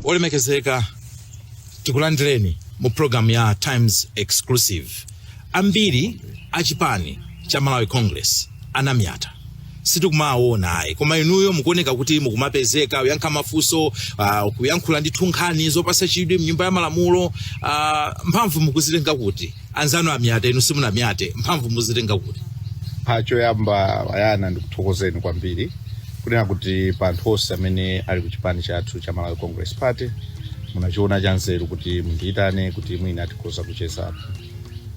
Olemekezeka, tikulandireni mu program ya Times Exclusive. Ambiri a chipani cha Malawi Congress anamyata sitikumawaona ayi koma inuyo mukuoneka kuti mukumapezeka kuyankha mafunso uh, kuyankhula ndithu nkhani zopasa chidwi mnyumba ya malamulo uh, mphamvu mukuzitenga kuti anzanu amyata inu simunamyate mphamvu muzitenga kuti pa choyamba Brian ndikuthokozeni kwambiri kunena kuti pa anthu onse amene ali ku chipani chathu cha malawi congress party munachiona chanzeru kuti mundiyitane kuti mwina tikhoza kuchezapo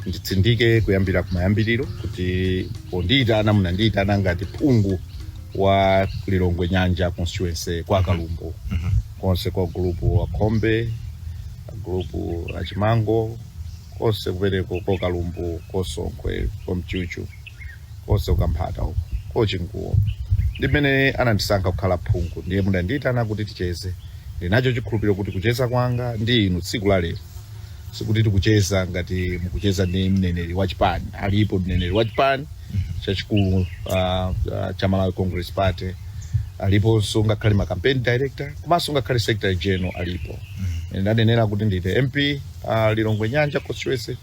nditsindike kuyambira kumayambiriro kuti pondiyitana munandiyitana ngati phungu wa lilongwe nyanja constituency kwa kalumbu konse kwa gulupu wa khombe gulupu wa chimango konse kumeneko ko kalumbu kosonkhwe komchuchu konse kukamphata uko kochinguwo ndi amene anandisankha kukhala phungu ndiye mudandiitana kuti ticheze ndinacho chikhulupiriro kuti kucheza kwanga ndi inu tsiku la lero sikuti tikucheza ngati mukucheza ndi mneneri wa chipani alipo mneneri wa chipani chachikulu uh, uh, cha malawi congress party aliponso ngakhale ma campaign director komanso ngakhale secretary general alipo ndanenera kuti ndine mp wa Lilongwe Nyanja constituency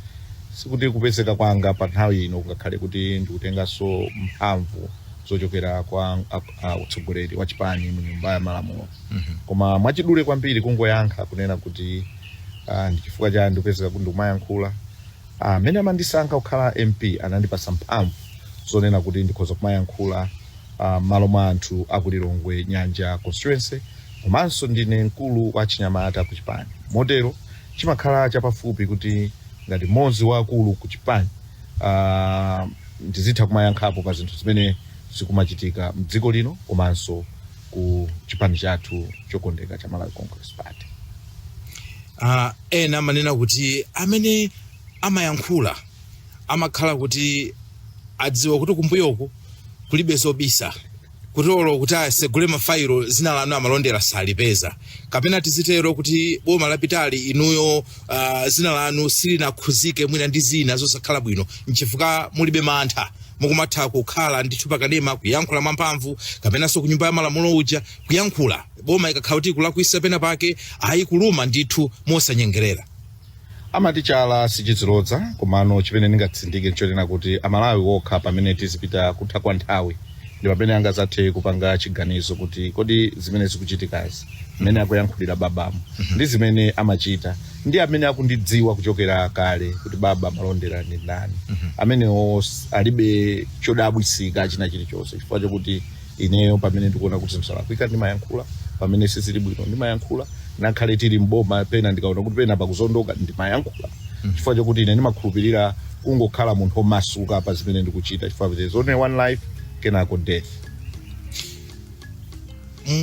sikuti kupezeka kwanga pa nthawi ino kungakhale kuti ndikutenganso mphamvu zochokera kwa ak- a- utsogoleri wa chipani mu nyumba ya malamulo koma mwachidule kwambiri kungoyankha kunena kuti ah, ndi chifukwa chani ndikupezeka kuti ndikumayankhula Ah, amene amandisankha kukhala mp anandipasa mphamvu zonena kuti ndikhoza kumayankhula ah, m'malo mwa anthu akulilongwe nyanja constituency Komanso ndine mkulu wa achinyamata ku chipani motero chimakhala chapafupi kuti ngati mmodzi wa akulu ku chipani ah, ndizitha kumayankhapo pa zinthu zimene zikumachitika mdziko lino komanso ku chipani chathu chokondeka cha Malawi Congress Party. Ah, ena amanena kuti amene amayankhula amakhala kuti adziwa kuti kumbuyoku kulibe zobisa kuti olo kuti asegule mafailo dzina lanu a Malondera salipeza kapena tizitero kuti boma lapitali inuyo uh, dzina lanu silinakhudzike mwina ndi zina zosakhala bwino nchifukwa mulibe mantha mukumatha kukhala ndithu pakanema kuyankhula mwamphamvu kapenanso ku nyumba ya malamulo uja kuyankhula boma ikakhala kuti ikulakwisa pena pake ayi kuluma ndithu mosanyengerera amati chala sichidziloza komano chimene ndingatsindike nchonena kuti amalawi okha pamene tizipita kutha kwa nthawi ndi pamene angazathe kupanga chiganizo kuti kodi zimene zikuchitikazi mmene akuyankhulira babamu ndi zimene amachita ndi amene akundidziwa kuchokera kale kuti baba malondera ndi ndani amenewo s- alibe chodabwisika china chilichonse chifukwa chokuti ineyo pamene ndikuona kuti zinthu zalakwika ndimayankhula pamene sizili bwino ndimayankhula ngakhale tili mboma pena ndikaona kuti pena pakuzondoka ndimayankhula chifukwa chokuti ine ndimakhulupirira kungokhala munthu omasuka pa zimene ndikuchita chifukwa there is only one life kenako death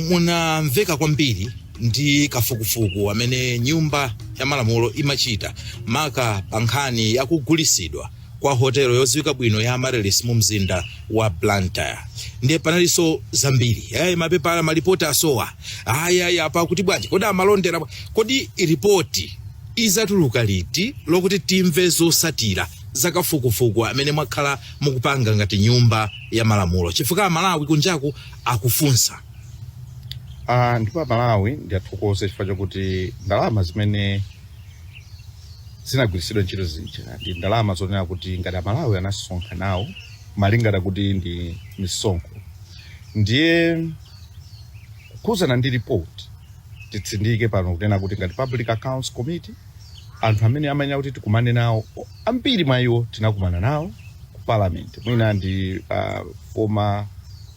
munamveka kwambiri ndi kafukufuku amene nyumba ya malamulo imachita maka pa nkhani yakugulisidwa kwa hotelo yodziwika bwino ya Amaryllis mu mzinda wa Blantyre ndiye panalinso zambiri eh, mapepala malipoti asowa ayi apa akuti bwanji kodi amalondera bwa- kodi ripoti izatuluka liti lokuti timve zotsatira za kafukufuku amene mwakhala mukupanga ngati nyumba ya malamulo chifukwa amalawi kunjaku akufunsa Ah, ndipo amalawi ndiathokoze chifukwa chakuti ndalama zimene zinagwiritsidwa ntchito zija ndi ndalama zonena kuti ngati amalawi anasonkha nawo malingana kuti ndi misonkho ndiye kukhudzana ndi report titsindike pano kunena kuti ngati public accounts committee anthu amene amayenera kuti tikumane nawo ambiri mwa iwo tinakumana nawo ku parliament mwina ndi uh, former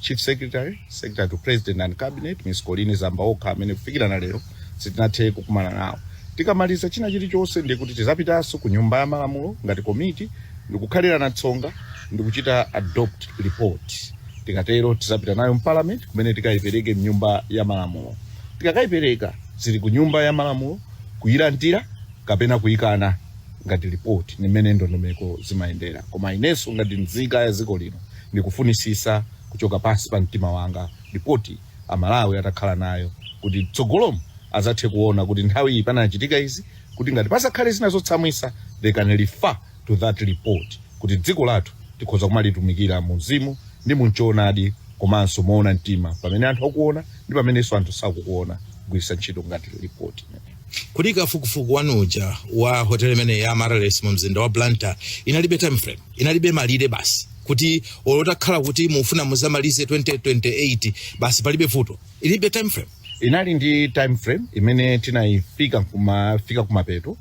chief secretary secretary to president and cabinet miss Colleen Zamba okha amene kufikira na lero sitinathe kukumana nawo tikamaliza china chilichonse ndiye kuti tizapitanso ku nyumba ya malamulo ngati komiti ndikukhalirana tsonga ndikuchita adopt report tikatero tizapita nayo mparliament kumene tikayipereke mnyumba ya malamulo tikakayipereka zili ku nyumba ya malamulo kuyilandira kapena kuyikana ngati report ndi mmene ndondomeko zimayendera koma inenso ngati nzika ya dziko lino ndikufunitsitsa kuchoka pansi pa mtima wanga report amalawi atakhala nayo kuti mtsogolomu azathe kuona kuti nthawi iyi panachitika izi kuti ngati pazakhale zina zotsamwitsa they can refer to that report kuti dziko lathu tikhoza kumalitumikira mu mzimu ndi munchoonadi komanso moona mtima pamene anthu akuona ndi pamenenso anthu sakukuona kugwiritsa ntchito ngati report imeneyi kodi kafukufuku wanu uja wa hotel imene ya Amaryllis mu mzinda wa blantyre inalibe time frame inalibe malire basi kuti olo utakhala kuti mukufuna muzamalize 2028 basi palibe vuto ilibe time frame inali ndi time frame imene tinayifika kumafika kumapeto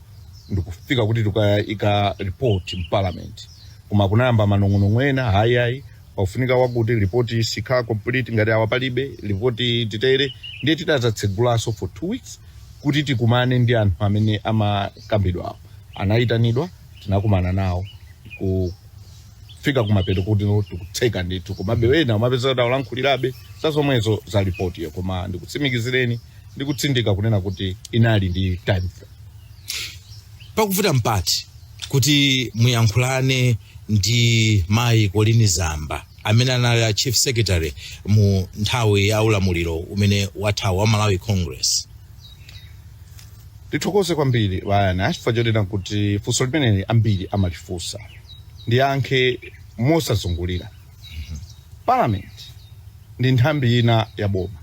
ndikufika kuti tikayika report mparliament koma kunayamba manong'onong'o ena ayi ayi pakufunika wakuti report sikhala complete ngati awa palibe report titere ndiye tidazatsegulanso for two weeks kuti tikumane ndi anthu amene amakambidwawo anayitanidwa tinakumana nawo ku fika kumapeto kuti no tikutseka ndithu komabe wena umapeza kuti akulankhulirabe za zomwezo za ripoti yo koma ndikutsimikizireni ndikutsindika kunena kuti inali ndi time frame pakufuna mpata kuti muyankhulane ndi mayi kolini zamba amene anali a chief secretary mu nthawi ya ulamuliro umene wathawu wa malawi congress Ndithokoze kwambiri Bayana chifukwa chonena kuti funso limeneli ambiri amalifunsa. Ndiyankha mosazungulira. Parliament ndi nthambi ina ya boma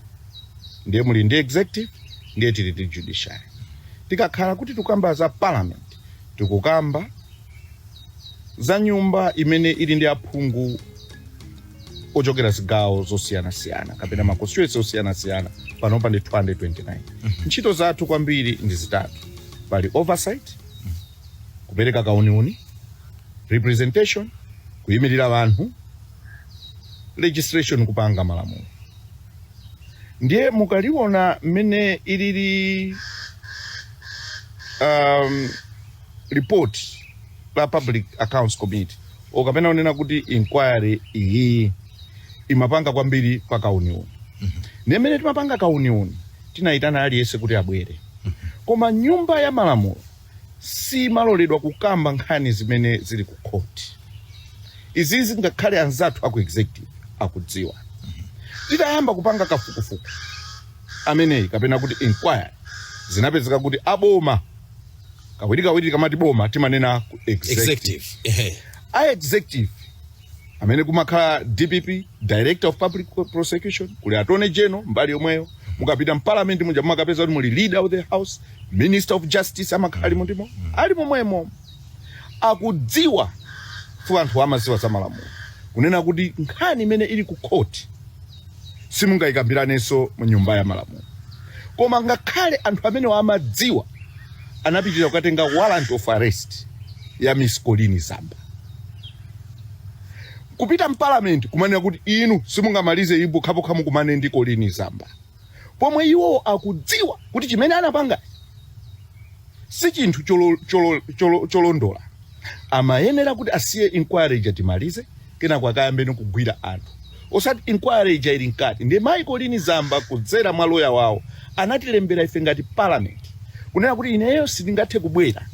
ndiye tili ndi executive ndiye tili ndi judiciary. Tikakhala kuti tikukamba za parliament tikukamba za nyumba imene ili ndi aphungu ochokera zigawo zosiyanasiyana kapena ma constituency osiyanasiyana panopa ndi 229 ntchito zathu kwambiri ndi zitatu pali oversight kupereka kauniuni representation kuyimirira anthu legislation kupanga malamulo ndiye mukaliona mmene ilili um, report la public accounts committee o kapena unena kuti inquiry iyi imapanga kwambiri pa kauniuni ndiye mmene timapanga kauniuni tinayitana aliyense kuti abwere koma nyumba ya malamulo simaloledwa kukamba nkhani zimene zili ku khoti izi ngakhale anzathu aku executive akudziwa titayamba kupanga kafukufuku ameneyi kapena kuti inquiry zinapezeka kuti aboma kawirikawiri tikamati boma timanena ku executive executive ehe a executive amene kumakhala dpp director of public prosecution kuli attorney general mbali yomweyo mukapita mparliament muja mumakapeza kuti muli leader of the house minister of justice amakhala alimo ndi mo ali momwemo akudziwa chifukwa anthu amadziwa za malamulo kunena kuti nkhani imene ili ku court simungayikambiranenso mu nyumba ya malamulo koma ngakhale anthu amenewa amadziwa anapitira kukatenga warrant of arrest ya miss kolini zamba kupita mpalamenti kumanena kuti inu simungamalize iyi pokhapokha mukumane ndi kolini zamba pomwe iwowo akudziwa kuti chimene anapanga si chinthu cholo- cholo- cholo- cholondola amayenera kuti asiye inquiry ija timalize kenako akayambeno kugwira anthu osati inquiry ija ili mkati ndiye mayi kolini zamba kudzera mwa loya wawo anatilembera ife ngati parliament kunena kuti ineyo sindingathe kubwera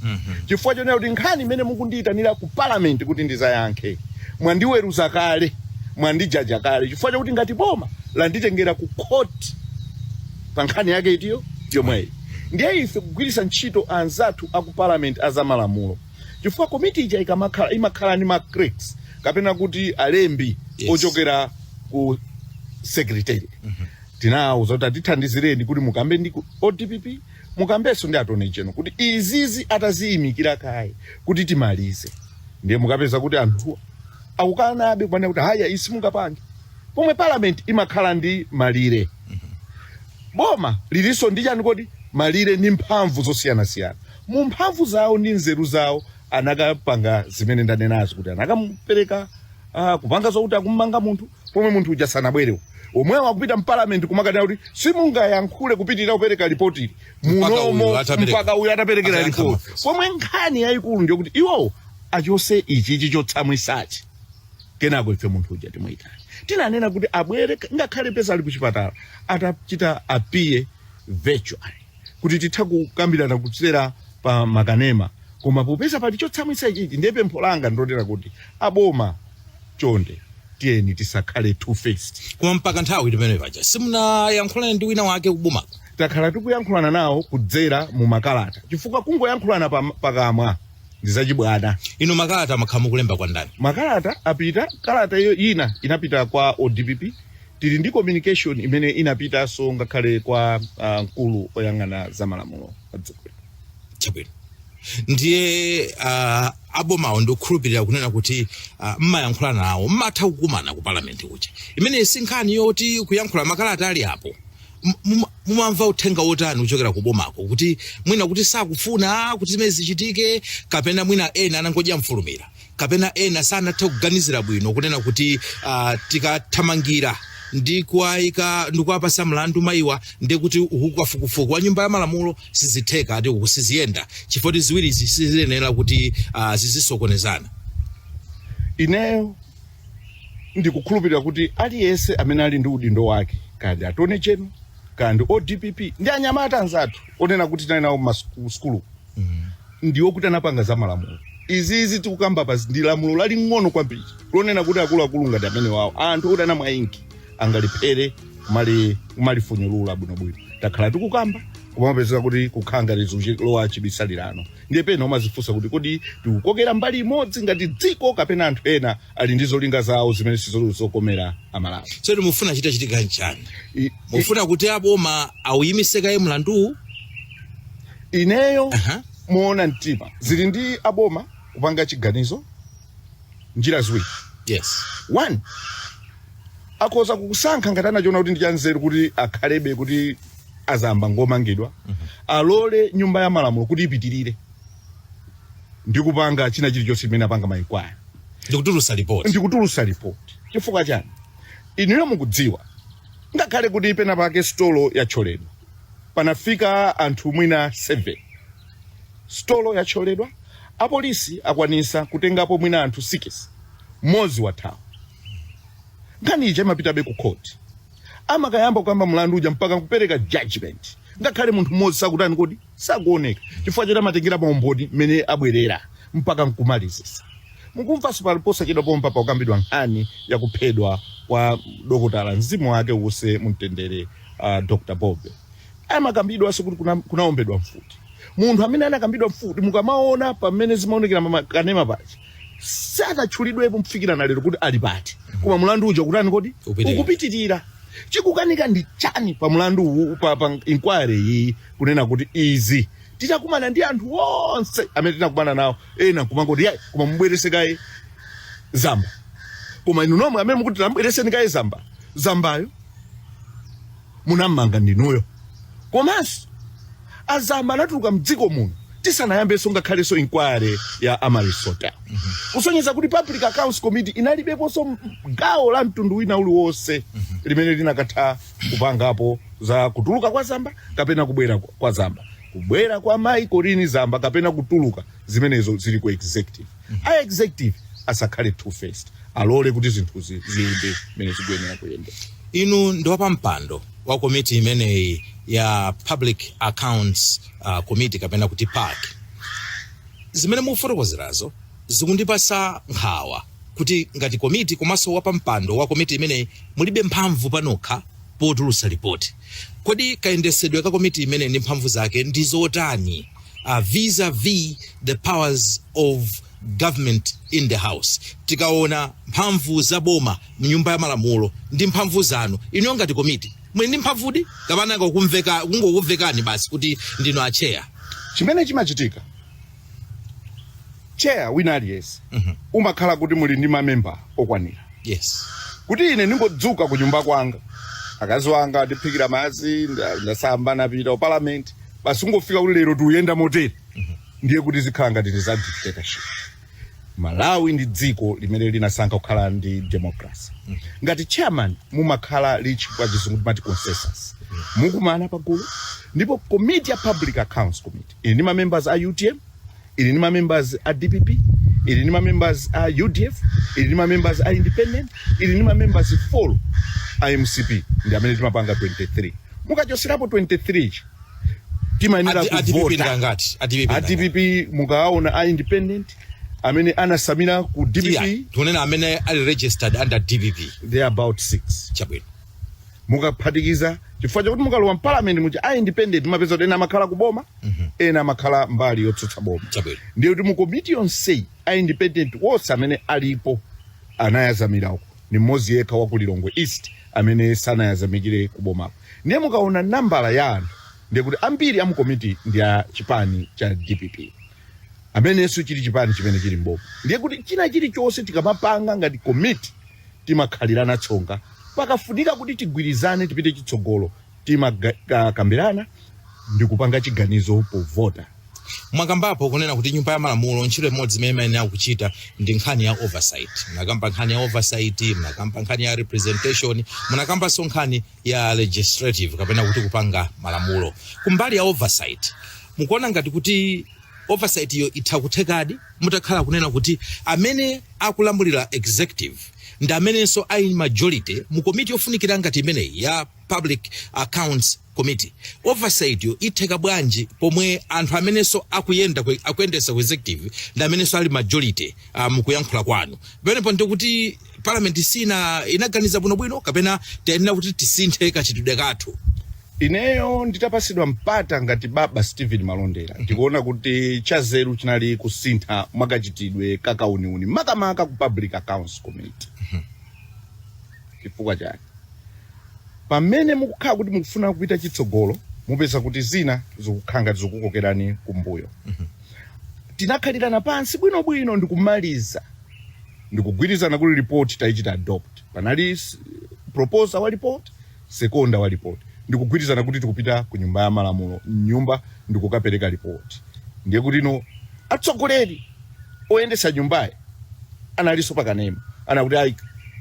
chifukwa chonena kuti nkhani imene mukundiyitanira ku parliament kuti ndizayankhe mwandiweruza kale mwandijaja kale chifukwa chakuti ngati boma landitengera ku khoti pa nkhani yake itiyo yomweyi ndiye ife kugwiritsa ntchito anzathu aku parliament azamalamulo chifukwa komiti ija ikamakhala imakhala ndi ma clerks kapena kuti alembi Yes. ochokera ku secretary tinawo zoti atithandizireni kuti mukambe ndi ku odpp mukambenso ndi attorney general kuti izizi ataziyimikira kaye kuti timalize ndiye mukapeza kuti anthu akukanabe kumanena kuti haya simungapange pomwe parliament imakhala ndi malire boma lilinso ndi chani kodi malire ndi mphamvu zosiyanasiyana mu mphamvu zawo ndi nzeru zawo anakapanga zimene ndanenazo kuti anakamupereka uh, kupanga zokuti akumanga munthu pomwe munthu uja sanabwerewo omwewo akupita mpalamenti kumakanena kuti simungayankhule kupitirira kupereka ripoti Mpaka uyu munomo atapereka. mpaka uyu ataperekera Atayankha ripoti mafunso. pomwe nkhani yayikulu ndiyokuti iwowo achotse ichichi chotsamwitsachi kenako ife munthu uja timuitana tinanena kuti abwere ngakhale pena ali kuchipatala atha chita appear virtually kuti titha kukambirana kudzera pa makanema koma popeza pali chotsamwitsa ichichi ndiye pempho langa ndilotera kuti aboma chonde tiyeni tisakhale two faced koma mpaka nthawi timene paja simunayankhulane ndi wina wake kubomako takhala tikuyankhulana nawo kudzera mu makalata chifukwa kungoyankhulana pa- pakamwa ndi zachibwana inu makalata mwakhala mukulemba kwa ndani makalata apita kalata ina inapita kwa odpp tili ndi communication imene inapitanso ngakhale kwa ah, mkulu oyang'ana za malamulo a dziko lino. chabwino ndiye uh, abomawo ndikukhulupirira kunena kuti uh, mmayankhula nawo mmatha kukumana ku palamenti kuja imeneyi si nkhani yoti kuyankhula makalata ali apo M- muma- mumamva uthenga wotani kuchokera ku bomako kuti mwina kuti sakufuna kuti zimene zichitike kapena mwina ena anangodya mfulumira kapena ena sanathe kuganizira bwino kunena kuti uh, tikathamangira ndi kuwayika ndi kuwapatsa mlandu mayiwa ndi kuti kafukufuku wa nyumba ya malamulo sizitheka ati uku siziyenda chifukwa ziwirizi siziyenera kuti uh, zizisokonezana ineyo ndikukhulupirira kuti aliyense amene ali ndi udindo wake kaya ndi attorney general kaya ndi odpp ndi anyamata anzathu onena kuti tinali nawo mmasukulu ndi woti anapanga za malamulo izizi tikukambapa ndi lamulo laling'ono kwambiri lonena kuti akuluakulu ngati amenewawo anthu oti anamwa inki angalephere kumali kumalifunyulula bwinobwino takhala tikukamba kumapezeka kuti kukhala ngati zikulowa chibisalirano Ndiye pena umadzifunsa kuti, kodi tikukokera mbali imodzi ngati dziko kapena anthu ena ali ndi zolinga zawo zimene sizili zokomera Amalawi? tsono mukufuna chitachitika nchani I- i- mukufuna kuti aboma auyimise kaye mlanduwu Ineyo Aha. moona mtima zili ndi aboma kupanga chiganizo njira ziwiri yes one akhoza kusankha ngati anachiona kuti ndi chanzeru kuti akhalebe kuti a Zamba ngomangidwa alole nyumba ya malamulo kuti ipitirire ndi kupanga china chilichonse chimene apanga ma inquiry ndikutulusa lipoti ndikutulusa lipoti chifukwa chani inuyo mukudziwa ngakhale kuti pena pake sitolo yathyoledwa panafika anthu mwina 7 Sitolo yathyoledwa, apolisi akwanisa kutengapo mwina anthu sikisi, mmodzi wathawa. Nkhani ija imapitabe ku khoti, amakayamba kukamba mlandu uja mpaka kupereka jajimenti ngakhale munthu mmodzi sakutani kodi, sakuoneka chifukwa choti amatengera maumboni mmene abwerera mpaka nkumalizisa. Mukumvanso pali posachedwa pompa pakukambidwa nkhani ya kuphedwa kwa dokotala, mzimu wake uuse mumtendere, a Dr Bobe. amakambidwanso kuti kuna- kunaombedwa mfuti munthu amene anakambidwa mfuti mukamaona pamene zimaonekera mmakanema paja sanatchulidwepo kufikira na lero kuti ali pati koma mulandu uja ukutani kodi Ukupitirira. ukupitirira chikukanika ndi chani pa mulandu uwu pa, pa inquiry iyi kunena kuti izi titakumana ndi anthu onse amene tinakumana nawo ena kumangoti yayi koma mubweretse kaye zamba koma inu nomwe amene mukuti tambweretseni kaye zamba zambayo munammanga ndinuyo komanso a Zamba anatuluka mdziko muno tisanayambenso ngakhalenso inquiry ya Amaryllis Hotel kusonyeza kuti public accounts committee inalibeponso m- gawo la mtundu wina uliwonse limene inakatha kupangapo za kutuluka kwa zamba kapena kubwera kwa- kwa zamba kubwera kwa mayi Colleen zamba kapena kutuluka zimenezo zili ku executive a executive asakhale two faced alole kuti zinthuzi ziyende mmene zikuyenera kuyendera inu ndi wapampando wa komiti imeneyi ya public accounts uh, committee kapena kuti pac zimene mukufotokozerazo zikundipasa nkhawa kuti ngati komiti komanso wapampando wa komiti imeneyi mulibe mphamvu panokha potulutsa lipoti Kodi kayendetsedwe ka komiti imeneyi ndi mphamvu zake ndi zotani uh, vis-a-vis the powers of government in the house tikaona mphamvu za boma mnyumba ya malamulo ndi mphamvu zanu inuyo ngati komiti muli ndi mphamvudi kapena akumangokuvekani basi kuti ndinu atcheya chimene chimachitika chair wina aliyense umakhala kuti muli ndi mamembala okwanira yes kuti ine ndingodzuka ku nyumba kwanga akazi wanga andiphikira madzi nda- ndasamba napita ku parliament basi ungofika kuti lero tikuyenda motere ndiye kuti zikhala ngati ndi za dictatorship malawi ndi dziko limene linasankha kukhala ndi democracy ngati chairman mumakhala reach pa chizungu timati consensus mukumane pagulu ndipo committee ya public accounts committee ili ndi ma members a utm ili ndi ma members a dpp ili ndi ma members a udf ili ndi ma members a independent ili ndi ma members full a mcp ndi amene timapanga 23 mukachotserapo 23 chi timayenera Ati- ati kuvota. pipita ngati? Ati pipita A DPP mukaona a independent amene anatsamira ku dpp Titha kunena amene ali registered under dpp they are about 6 chabwino mukaphatikiza chifukwa chakuti mukalowa mpalamenti muli a independent mupeza kuti ena amakhala ku boma ena amakhala mbali yotsutsa boma Chabwino. ndiye kuti mu komiti yonseyi a independent wonse amene alipo anayedzamira uko ni mmodzi yekha wa ku lilongwe east amene sanayedzamire ku bomako ndiye mukaona nambala ya anthu ndiye kuti ambiri a mu komiti ndi a chipani cha dpp amenenso chili chipani chimene chili mboma ndiye kuti china chilichonse tikamapanga ngati komiti timakhalirana tsonga. Pakafunika kuti tigwirizane tipite chitsogolo, timakambirana ndikupanga chiganizo povota. Mwakambapo kunena kuti nyumba ya malamulo ntchito imodzi imene imayenera kuchita ndi nkhani ya oversight. Munakamba nkhani ya oversight, munakamba nkhani ya representation, munakambanso nkhani ya legislative kapena kuti kupanga malamulo. Kumbali ya oversight, mukuona ngati kuti oversight yo itha kuthekadi mutakhala kunena kuti amene akulamulira executive ndi amenenso ali ndi majority mu komiti yofunikira ngati imeneyi ya public accounts committee oversight yo itheka bwanji pomwe anthu amenenso akuyenda ku- akuyendesa ku executive ndi amenenso ali majority uh, mukuyankhula kwanu pamenepo ndikuti parliament isina- inaganiza bwinobwino kapena tiyenera kuti tisinthe kachitidwe kathu ineyo nditapatsidwa mpata ngati baba stephen malondera ndikuona kuti chazeru chinali kusintha mwakachitidwe ka kauniuni makamaka ku public accounts committee chifukwa chake pamene mukukhala kuti mukufuna kupita chitsogolo mupeza kuti zina zikukhala ngati zikukokerani kumbuyo tinakhalirana pansi bwinobwino ndikumaliza ndikugwirizana kuti report taichita adopt panali proposer wa report seconder wa report ndikugwirizana kuti tikupita ku nyumba ya malamulo mnyumba ndikukapereka report ndiye kuti no atsogoleri oyendesa nyumbayi analinso pakanema anakuti ayi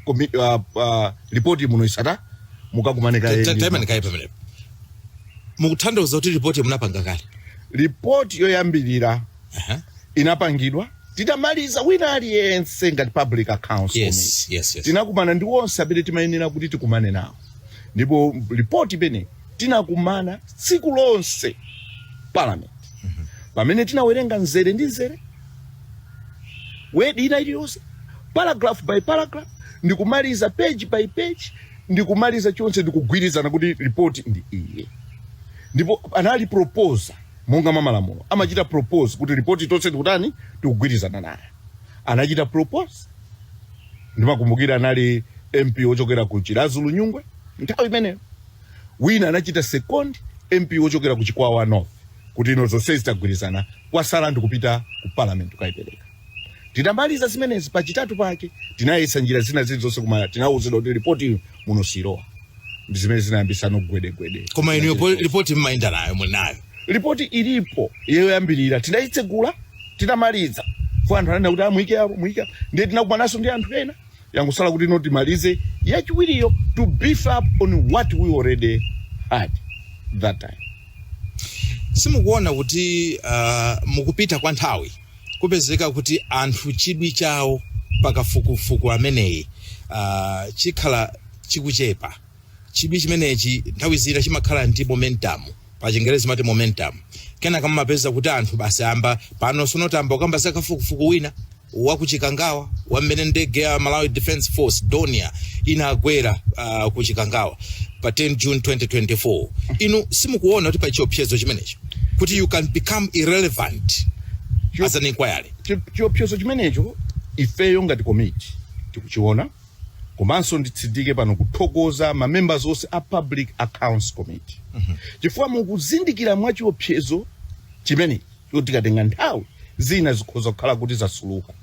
komi- ah, ah, report muno isata mukakumane kaye ndi- taimani kaye pamenepo mukutanthauza kuti ripoti munapanga kale report yoyambirira Aha. inapangidwa titamaliza wina aliyense ngati public accounts Yes, committee, yes, yes. tinakumana ndi onse amene timayenera kuti tikumane nawo ndipo ripoti pamene tinakumana tsiku lonse parliament pamene tinawerenga mzere ndi mzere word ina iliyonse paragraph by paragraph ndikumaliza page by page ndikumaliza chonse ndikugwirizana kuti ripoti ndi iyi ndipo panali proposer monga mwa malamulo amachita propose kuti report tonse tikutani tikugwirizana naye anachita propose ndimakumbukira anali mp wochokera ku chiradzulu nyungwe nthawi imeneyo wina anachita second mp wochokera ku chikwawa north kuti ino zonse zitagwirizana kwatsala ndikupita ku parliament kukayipereka Titamaliza zimenezi, pachitatu pake tinayesa njira zina zilizonse koma tinawuzidwa kuti ripoti muno silowa. Ndi zimene zinayambitsa no gwedegwede. Koma inuyo po- ripoti mmayenda nayo muli nayo. Ripoti ilipo yoyambirira tinayitsegula titamaliza. Fo anthu ananena kuti amuyike apo muyike apo. Ndiye tinakumananso ndi anthu ena yangotsala kuti no timalize yachiwiriyo to beef up on what we already had that time. Simukuona kuti uh, mukupita kwa nthawi kupezeka kuti anthu chidwi chawo pa kafukufuku ameneyi uh, chikhala chikuchepa chidwi chimenechi nthawi zina chimakhala ndi momentum pa chingerezi mati momentum kenaka mumapeza kuti anthu basi amba pano sonotamba ukamba za kafukufuku wina wakuchikangawa wamene ndege ya malawi defense force dornier inagwera uh, kuchikangawa pa 10 june 2024 inu simukuona kuti pa chiopsezo chimenecho kuti you can become irrelevant Chio- as an inquiry Chi- chiopsezo chimenecho ifeyo ngati komiti tikuchiona komanso nditsindike pano kuthokoza ma members onse a public accounts committee chifukwa mukuzindikira mwa chiopsezo chimene choti tikatenga nthawi zina zikhoza kukhala kuti zasukuluka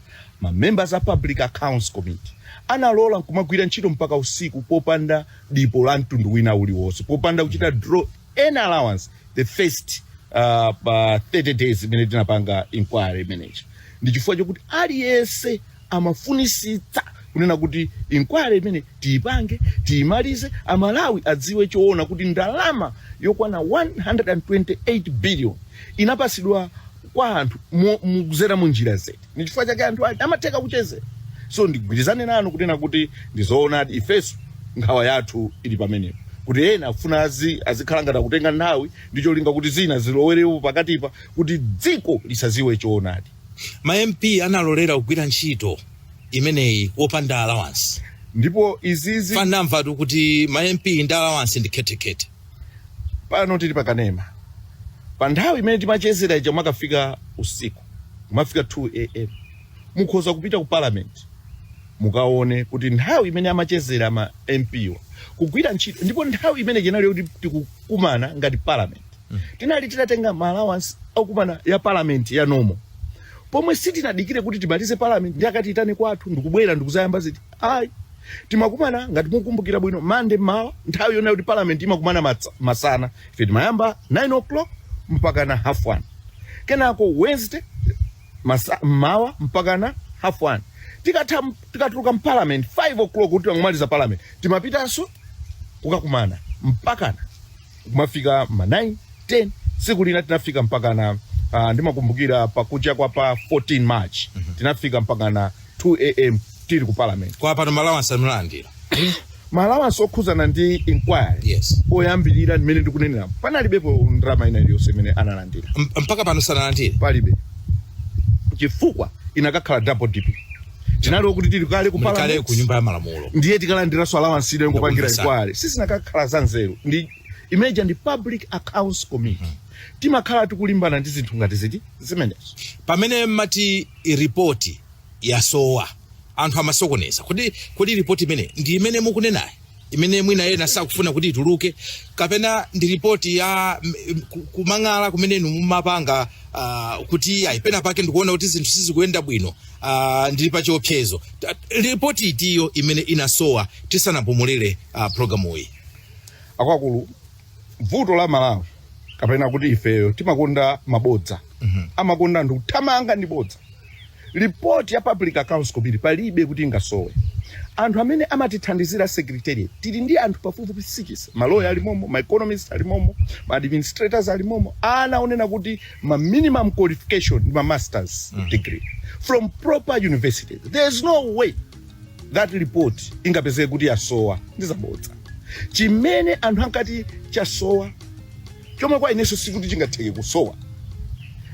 ma members a public accounts committee analola nkumagwira ntchito mpaka usiku popanda dipo la mtundu wina uliwonse popanda kuchita draw any allowance the first uh, pa 30 days imene tinapanga inquiry imeneyi ndi chifukwa chokuti aliyense amafunitsitsa kunena kuti inquiry imene tiyipange tiyimalize amalawi adziwe choona kuti ndalama yokwana 128 billion inapatsidwa kwa anthu mo- mu- kuzera mu njira ziti ni chifukwa chake anthu aja amatheka kuchezera so ndigwirizane nanu kunena kuti ndizoonadi ifenso nkhawa yathu ili pamenepo kuti ena afuna azi azikhala ngati akutenga nthawi ndi cholinga kuti zina zilowerepo pakatipa kuti dziko lisadziwe choonadi ma mp analolera kugwira ntchito imeneyi wopanda allowance ndipo izizi tanamvatu kuti ma mp ndi allowance ndi khethekhethe pano tili pakanema pa nthawi imene timachezera ija mmakafika usiku kumafika 2 am mukhoza kupita ku parliament mukaone kuti nthawi imene amachezera ma mp wa kugwira ntchito ndipo nthawi imene inali yoti tikukumana ngati parliament tinali titatenga ma allowance okumana ya parliament yapo pomwe sitinadikire kuti timalize parliament ndiye akatiyitane kwathu ndikubwera ndikudzayamba ziti ayi timakumana ngati mukumbukira bwino mande mmawa nthawi yonena kuti parliament imakumana matsa- masana ife timayamba 9 o'clock mpakana half one kenako wednesday masa- mmawa mpakana half one tikatha tikatuluka mparliament 5 o'clock kuti tangomaliza parliament timapitanso kukakumana mpakana kumafika ma 9 10 tsiku lina tinafika mpakana uh, ndimakumbukira pakucha kwa pa 14 march tinafika mpakana 2 am tili ku parliament kwa pano ma allowance munalandira ma allowance okhuzana ndi inquiry yes oyambirira ndimene ndikunenera panalibepo ndalama ina iliyonse imene analandira M- mpaka pano sanalandire palibe chifukwa inakakhala double dipping tinali okuti tili kale ku muli kale parliament ku nyumba ya malamulo ndiye tikalandiranso allowance ina yongopangira Ndakupesa. inquiry sizinakakhala za nzeru ndi ife paja ndi public accounts committee timakhala tikulimbana ndi zinthu ngati ziti zimenezo pamene mmati ripoti yasowa anthu amasokoneza kodi kodi ripoti imene ndi imene mukunenayo imene mwina ena sakufuna kuti ituluke kapena ndi ripoti ya m- m- ku- kumang'ala kumene inu mumapanga uh, kuti ayi pena pake ndikuona kuti zinthu sizikuyenda bwino uh, ndili pa chiopsezo Ta- ripoti itiyo imene inasowa tisanapumulire uh, programu iyi akuluakulu vuto la malawi kapena kuti ifeyo timakonda mabodza amakonda anthu kuthamanga ndi bodza report ya public accounts committee palibe kuti ingasowe anthu amene amatithandizira secretariat tili ndi anthu pafupifupi sikisi ma lawyer alimomo ma economist alimomo ma administrators alimomo ena onena kuti ma minimum qualification ndi ma masters degree from proper universities there is no way that report ingapezeke kuti yasowa ndi zabodza chimene anthu ankati chasowa chomwe kwa inenso sikuti chingatheke kusowa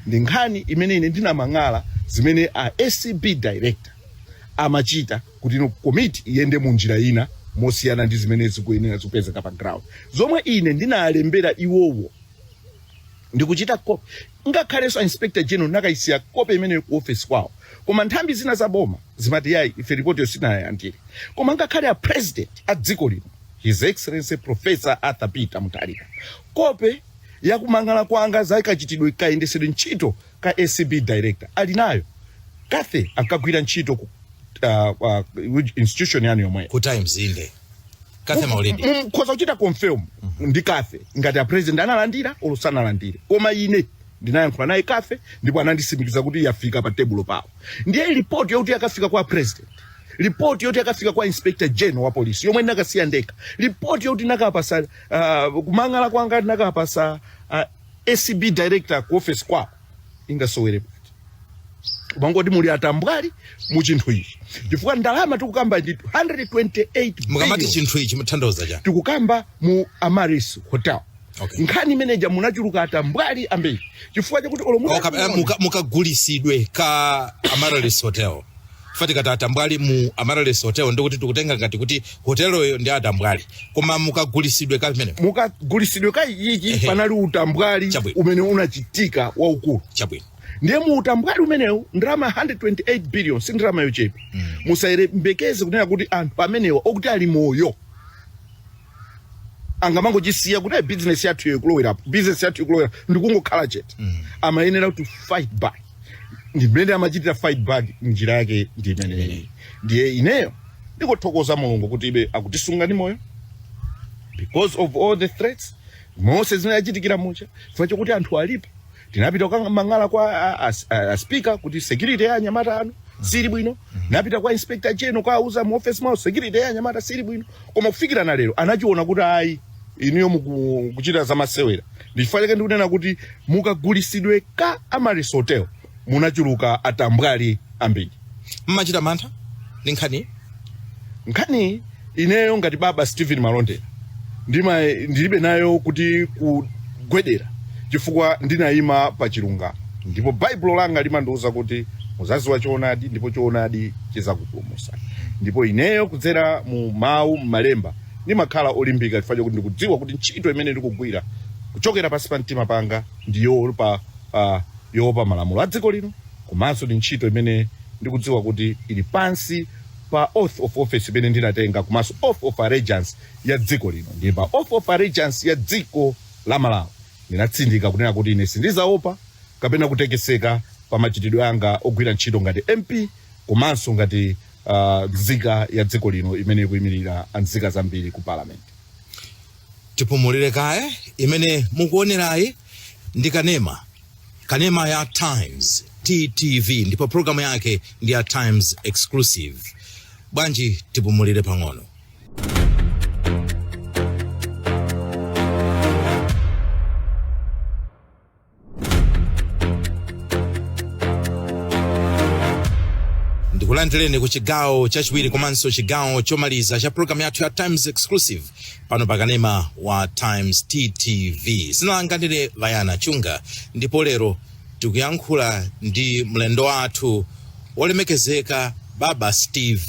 ndi nkhani imene ine ndinamang'ala zimene a acb director amachita kuti ino komiti iyende mu njira ina mosiyana ndi zimene zikuyenera zikupezeka pa ground zomwe ine ndinalembera iwowo ndikuchita kope ngakhalenso a inspector general ndinakayisiya kope imeneyo ku office kwawo koma nthambi zina za boma zimati yayi ife ripotiyo sinayalandire koma ngakhale a president a dziko lino His Excellency Professor Arthur Peter Mutharika kope ya kumang'ala kwanga za kachitidwe kayendesedwe ntchito ka acb director ali nayo Cathy ankagwira ntchito ku uh, uh, institution yanu yomweyo ku times inde Cathy Maulidi mkhoza kuchita confirm ndi Cathy ngati a president analandira olo sanalandire koma ine ndinayankhula naye Cathy ndipo ananditsimikizira kuti yafika pa tebulo pawo ndiye report yoti yakafika kwa president report yoti yakafika kwa inspector general wa polisi yomwe ndinakasiya ndekha report yoti ndinakapasa uh, kumang'ala kwanga ndinakapasa uh, acb director ku office kwawo ingasowere pati mwangoti muli atambwali mu chinthu ichi chifukwa ndalama tikukamba ndi 128 mukamati billion chinthu ichi mutanthauza chani tikukamba mu amaryllis hotel Okay. nkhani imeneja munachuluka atambwali ambiri chifukwa chakuti olo muta- Oka- eh, muka- mukagulisidwe ka amaryllis hotel fati kati atambwali mu amaryllis hotel ndikuti tikutenga ngati kuti hoteloyo ndi atambwali koma mukagulisidwe ka pamene mukagulisidwe ka ichichi Ehe. panali utambwali Chabwino. umene unachitika waukulu chabwino ndiye mu utambwali umenewu ndalama 128 billion si ndalama yochepa musayembekeze kunena kuti anthu amenewa okuti ali moyo angamangochisiya kuti "Eh, business yathu iyo ikulowerapo business yathu ikulowera ndikungokhala chete amayenera kuti fight back ndimene amachitira fight back njira yake ndi imeneyi ndiye ineyo ndikuthokoza mulungu kuti ife akutisunga ndi moyo because of all the threats mose zimene achitikira mucha chifukwa chokuti anthu alipo tinapita kukamang'ala kwa a- a- a- a speaker kuti security ya anyamata anu siili bwino tinapita kwa inspector general kuwauza mu office mwawo security ya anyamata siili bwino koma kufikira lero anachiona kuti ayi inuyo mukuchita zamasewera ndichifukwa chake ndikunena kuti mukagulisidwe ka amaryllis hotel munachuluka atambwali ambiri mumachita mantha ndi nkhani nkhani ineyo ngati baba stephen malondera ndima ndilibe nayo kuti kugwedera chifukwa ndinayima pa chilungamo ndipo baibulo langa limandiwuza kuti muzaziwa choonadi ndipo choonadi chizakupulumusani ndipo ineyo kudzera mu mawu m'malemba ndimakhala olimbika chifukwa chakuti ndikudziwa kuti ntchito imene ndikugwira kuchokera pansi pa mtima panga ndi yoopa uh, yoopa malamulo a dziko lino komanso ndi ntchito imene ndikudziwa kuti ili pansi pa oath of office imene ndinatenga komanso oath of allegiance ya dziko lino ndi pa oath of allegiance ya dziko la malawi Ndinatsindika kunena kuti ine sindizaopa kapena kutekeseka pa machitidwe anga ogwira ntchito ngati MP komanso ngati uh, nzika ya dziko lino imene ikuyimirira nzika zambiri ku parliament. Tipumulire kaye imene mukuonerayi ndi kanema kanema ya Times TTV ndipo programu yake ndi ya Times Exclusive. Bwanji tipumulire pang'ono. ndikulandireni ku chigawo chachiwiri komanso chigawo chomaliza cha programu yathu ya times exclusive pano pakanema wa times tv dzina langa ndine brian banda ndipo lero tikuyankhula ndi mlendo wathu wolemekezeka baba steve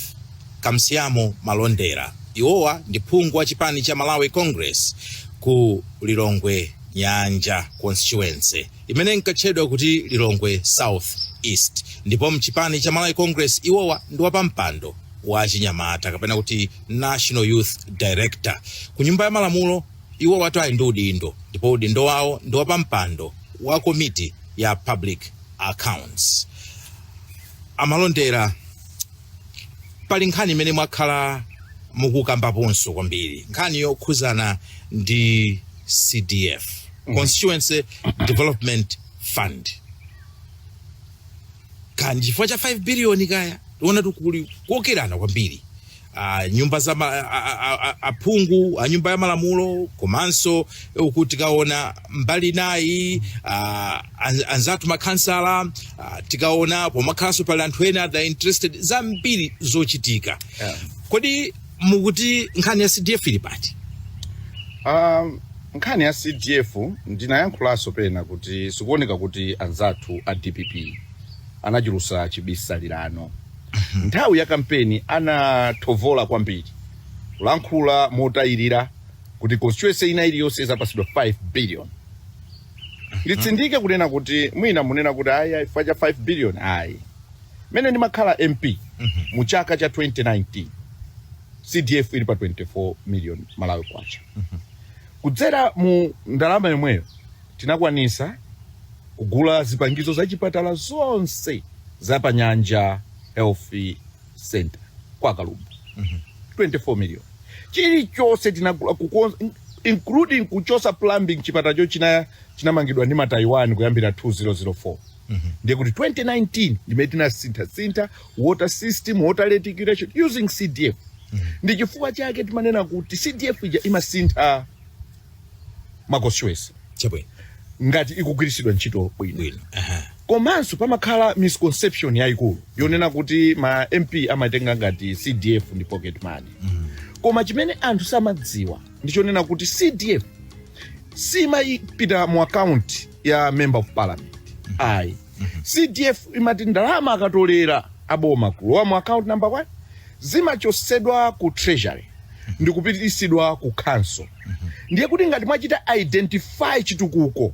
Kamsiamo Malondera, iwowa ndi phungu wa chipani cha Malawi Congress ku Lilongwe Nyanja constituency imene inkatchedwa kuti Lilongwe South East ndipo mchipani cha Malawi Congress iwowa ndi wapampando wa achinyamata kapena kuti National Youth Director ku nyumba ya malamulo iwowatu ali ndi udindo ndipo udindo wawo ndi wapampando wa komiti ya Public Accounts. Amalondera pali nkhani imene mwakhala mukukambaponso kwambiri nkhani yokhuzana ndi cdf constituency development fund kapena chifukwa cha 5 biliyoni kaya tikuona kuti kuli kukokerana kwambiri uh, nyumba za ma- a- a- a- a- aphungu a nyumba ya malamulo komanso eh, tikaona mbali inayi uh, An- anzathu makhansala ah, tikaona pamakhalanso pali anthu ena that are interested zambiri zochitika Yeah. kodi mukuti nkhani ya cdf ili pati Um, nkhani ya cdf ndinayankhulanso pena kuti zikuoneka kuti anzathu a dpp anachulusa chibisalira nthawi ya kampeni anathofola kwambiri kulankhula motayirira kuti constituency ina iliyonse izapasidwa 5 billion nditsindike kunena kuti mwina munena kuti ayi ayi chifukwa cha 5 billion ayi mene ndimakhala mp mu chaka cha 2019 cdf ili pa 24 million malawi kwacha kudzera mu ndalama yomweyo tinakwanisa kugula zipangizo za chipatala zonse za panyanja health center kwa kalumbu 24 million chilichonse tinagula kukonza including kuchosa plumbing chipatalacho chinamangidwa ndi mataiwan kuyambira 2004 ndiye kuti 2019 ndimene tinasinthasintha water system water reticulation using cdf ndi chifukwa chake timanena kuti cdf ija imasintha ma constituency chabwino ngati ikugwiritsidwa ntchito bwino bwino aha komanso pamakhala misconception yayikulu yonena kuti ma mp amatenga ngati cdf ndi pocket money koma chimene anthu samadziwa ndi chonena kuti cdf simayipita mu account ya member of parliament ayi cdf imati ndalama akatolera aboma kulowa mu account number one zimachotsedwa ku treasury ndikupitisidwa ku council ndiye kuti ngati mwachita identify chitukuko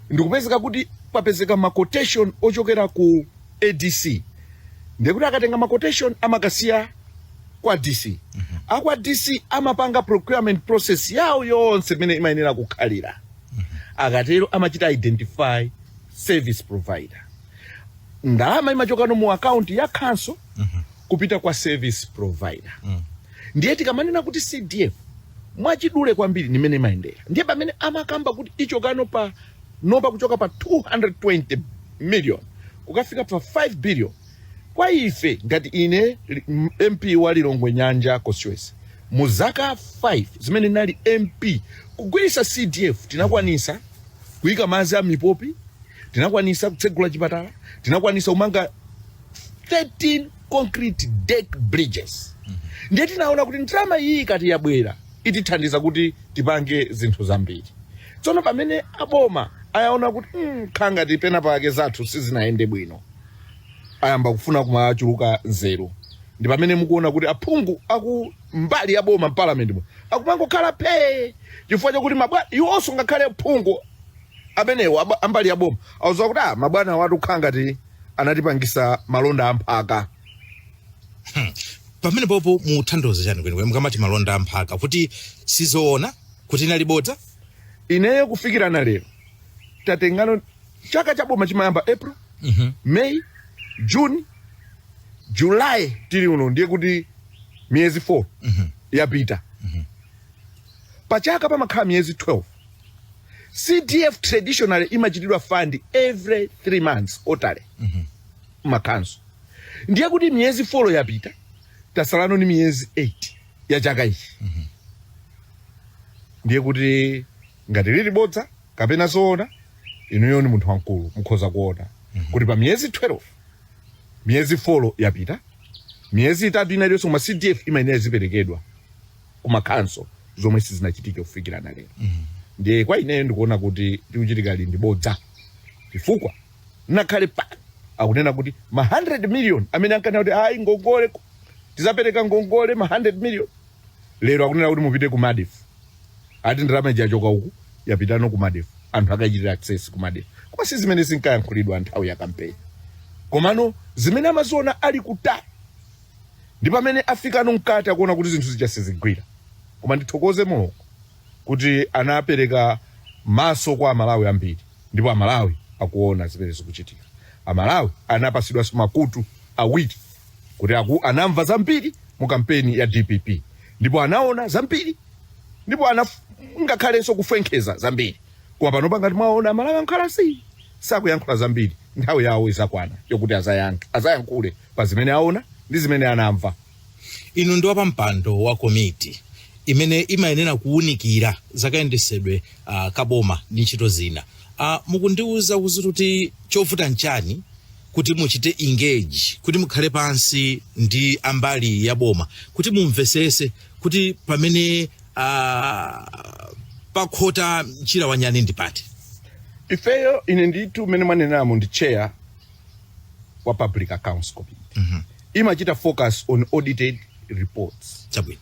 ndikupezeka kuti papezeka ma quotation ochokera ku adc ndiye kuti akatenga ma quotation amakasiya kwa dc akwa dc amapanga procurement process yawo yonse imene imayenera kukhalira akatero amachita identify service provider ndalama imachokano mu akaunti ya council kupita kwa service provider mm. ndiye tikamanena kuti cdf mwachidule kwambiri ndi mmene imayendera ndiye pamene amakamba kuti ichokano panopa kuchoka pa 220 million kukafika pa 5 billion kwa ife ngati ine li- m- mp wa lilongwe nyanja constituency mu zaka 5 zimene nali mp kugwiritsa cdf tinakwanisa kuyika madzi a mipopi tinakwanisa kutsegula chipatala tinakwanisa kumanga 13 concrete deck bridges ndiye tinaona kuti ndalama iyi ikati yabwera itithandiza kuti tipange zinthu zambiri tsono pamene aboma ayaona kuti mm, nkhanga tinapana pake zathu sizinayende bwino ayamba kufuna kumachuluka nzeru ndi pamene mukuona kuti aphungu aku mbali ya boma mparliament mu akumangokhala phee chifukwa chakuti mabwana iwonso ngakhale phungu amenewo aba- ambali ya boma auza kuti ah mabwanawatu nkhanga ti anatipangisa malonda amphaka Hmm. pamene popo mukutanthauza chani kwenikweni mukamati malonda amphaka kuti sizoona kuti inali bodza ineyo kufikirana lero tatengano chaka cha boma chimayamba april Mhm. may june july tili uno ndiye kuti miyezi 4 yapita pachaka pamakhala miyezi 12 cdf traditionally imachitidwa fund every three months quarterly makhonsolo ndiye kuti miyezi 4 yapita tasalano ni miyezi 8 ya chaka ichi ndiye kuti ngati lili bodza kapena zoona inuyo ni munthu wamkulu mukhoza kuona kuti pa miyezi 12 miyezi 4 yapita miyezi itatu ina iliyonse koma cdf imayenera iziperekedwa ku makhonsolo zomwe sizinachitike kufikira na lero ndiye kwa ineyo ndikuona kuti chikuchitika apa ndi bodza chifukwa ngakhale pa akunena kuti ma 100 million amene ankanena kuti ayi ngongole ku- tizapereka ngongole ma 100 million lero akunena kuti mupite ku medf ati ndalama ija yachoka uku yapitano ku medf anthu akachitira access ku medf koma si zimene zinkayankhulidwa nthawi ya kampeni komano zimene amaziona ali kutali ndi pamene afikano mkati akuona kuti zinthu zija sizikugwira koma ndithokoze mulungu kuti anapereka maso kwa amalawi ambiri ndipo amalawi akuona zimene zikuchitika amalawi anapasidwanso makutu awiri kuti aku, anamva zambiri mu kampeni ya dpp ndipo anaona zambiri ndipo ana ngakhalenso kufwenkheza zambiri koma panopa ngati mwaona amalawi akhala s- sakuyankhula zambiri nthawi yawo izakwana yokuti azayankhe azayankhule pa zimene aona ndi zimene anamva. Inu ndi wapampando wa komiti imene imayenera kuwunikira zakayendesedwe uh, kaboma ndi ntchito zina uh, mukundiwuza kuti chovuta nchani kuti muchite engage kuti mukhale pansi ndi ambali ya boma kuti mumvesese kuti pamene uh, pakhota mchira wanyani ndi pati ifeyo ine ndithu mmene mwaneneramo ndi chair wa public accounts committee mm -hmm. imachita focus on audited reports chabwino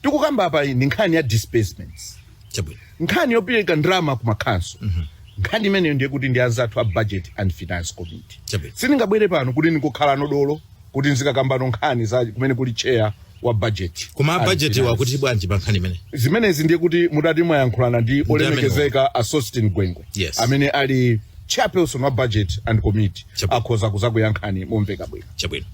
tikukambapa ndi nkhani ya disbursements chabwino nkhani yopereka ndalama ku makhansolo mm -hmm. nkhani imeneyo ndiye kuti ndi anzathu a budget and finance committee chabwino sindingabwere pano kuti ndikukhala nodolo kuti ndizikambano nkhani za kumene kuli chair wa budget koma and a budget and finance. wakuti bwanji pa nkhani imene zimenezi ndiye kuti mutati mwayankhulana ndi olemekezeka a sosten gwengwe Yes. amene ali chairperson wa budget and committee Chabwino. akhoza kuzakuyankhani momveka bwino chabwino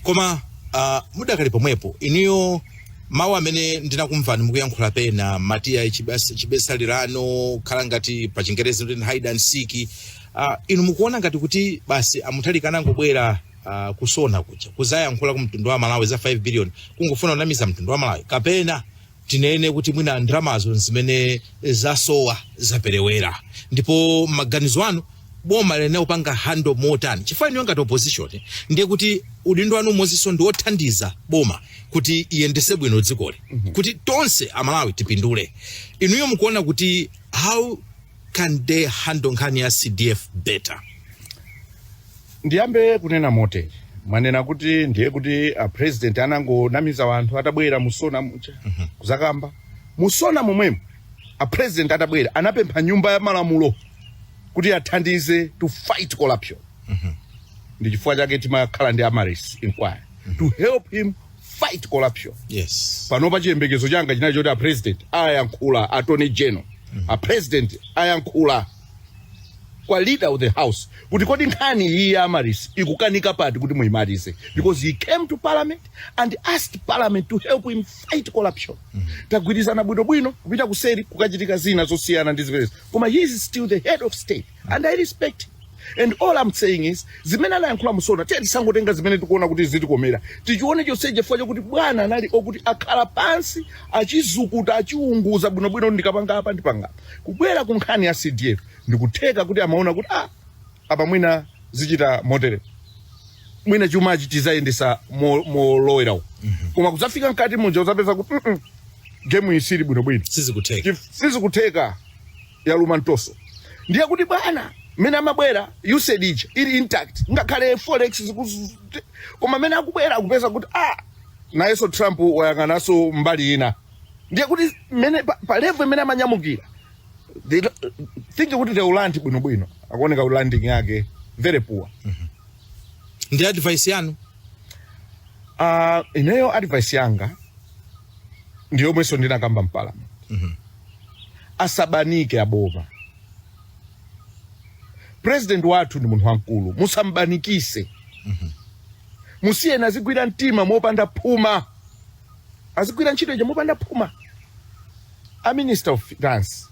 koma uh, mudakali pomwepo inuyo mawu amene ndinakumvani mukuyankhula pena mumati ya chibis- chibisaliro ano khala ngati pa chingerezi kuti hide and seek uh, inu mukuona ngati kuti basi a mutharika anangobwera uh, ku sona kuja kuzayankhula ku mtundu wa malawi za 5 billion kungofuna kunamiza mtundu wa malawi kapena tinene kuti mwina ndalamazo ndi zimene zasowa zaperewera ndipo maganizo anu boma liyenera kupanga handle motani chifukwa inuyo ngati opposition ndiye kuti udindo wanu umodzinso ndi wothandiza boma kuti liyendese bwino dzikoli kuti tonse amalawi tipindule inuyo mukuona kuti how can they handle nkhani ya cdf better Ndiyambe kunena motere, mwanena kuti ndiye kuti a president anangonamiza wanthu atabwera mu Sona muja kuzakamba mu Sona momwemo a president atabwera anapempha nyumba ya malamulo kuti athandize to fight corruption ndi chifukwa chake timakhala ndi amaryllis inquiry to help him fight corruption yes panopa chiyembekezo changa chinali choti a president ayankhula attorney general a president ayankhula kwa leader of the house kuti kodi nkhani iyi ya Amaryllis ikukanika pati kuti muyimalize because he came to parliament and asked parliament to help him fight corruption tagwirizana bwinobwino kupita kuseri kukachitika zina zosiyana ndi zimenezi koma he is still the head of state and i respect him and all i'm saying is zimene anayankhula mu SONA tiye tisangotenga zimene tikuona kuti zitikomera tichione chonse chifukwa chakuti bwana anali okuti akhala pansi achizukuta achiunguza bwinobwino ndikapanga apa ndipanga apa. Kubwera ku nkhani ya CDF, ndikutheka kuti amaona kuti ah, apa mwina zichita moteremu mwina chumachi tizayendesa mo- molowera uko koma kudzafika mkati muja udzapeza kuti mm -mm, gemu iyi sili bwinobwino sizikutheka Chif- sizikutheka yaluma mtoso ndiye kuti bwana mmene amabwera USAID ija ili intact ngakhale forex zikuzu- koma mmene akubwera akupeza kuti ah nayenso trump wayang'ananso mbali ina ndiye kuti mmene pa, pa level imene amanyamukira they don't- think kuti they will land bwino bwino akuoneka kuti landing yake very poor ndi advice yanu uh, ineyo advice yanga ndi yomwenso ndinakamba mpalamenti asabanike aboma president wathu ndi munthu wamkulu musambanikise musiyeni azigwira mtima mopanda phuma azigwira ntchito ija mopanda phuma a minister of finance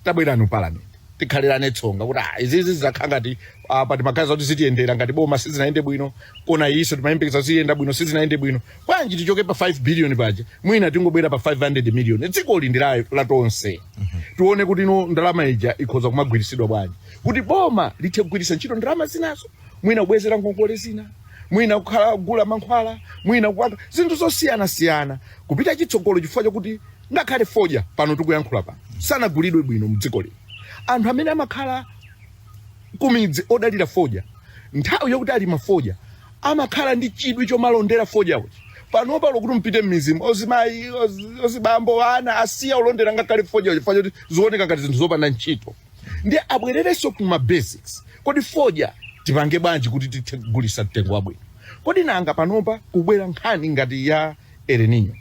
tabwerani ku parliament tikhalirane tsonga kuti ah, izizi zizakhala ngati ah, pati magazi oti zitiyendera ngati boma sizinayende bwino kona iyiso timayembekeza kuti ziyenda bwino sizinayende bwino bwanji tichoke pa 5 billion paja mwina tingobwera pa 500 million dziko lindi la la tonse tione kuti iyo ndalama ija ikhoza kumagwiritsidwa bwanji kuti boma lithe kugwiritsa ntchito ndalama zinazo mwina kubwezera ngongole zina mwina kukhala kugula mankhwala mwina kupanga zinthu zosiyanasiyana kupita chitsogolo chifukwa chakuti ngakhale fodya pano tikuyankhula pano sanagulidwe bwino mdziko lino anthu amene amakhala kumidzi odalira fodya nthawi yokuti alima fodya amakhala ndi chidwi chomalondera fodya usiku panopa lokuti mupite m'midzimu ozimayi ozi- ozibambo ana asiya kulondera ngakhale fodya usiku chifukwa choti zikuoneka ngati zinthu zopanda ntchito ndiye abwererenso ku ma basics kodi fodya tipange bwanji kuti tithe kugulisa mtengo wabwino kodi nanga panopa kubwera nkhani ngati ya El Nino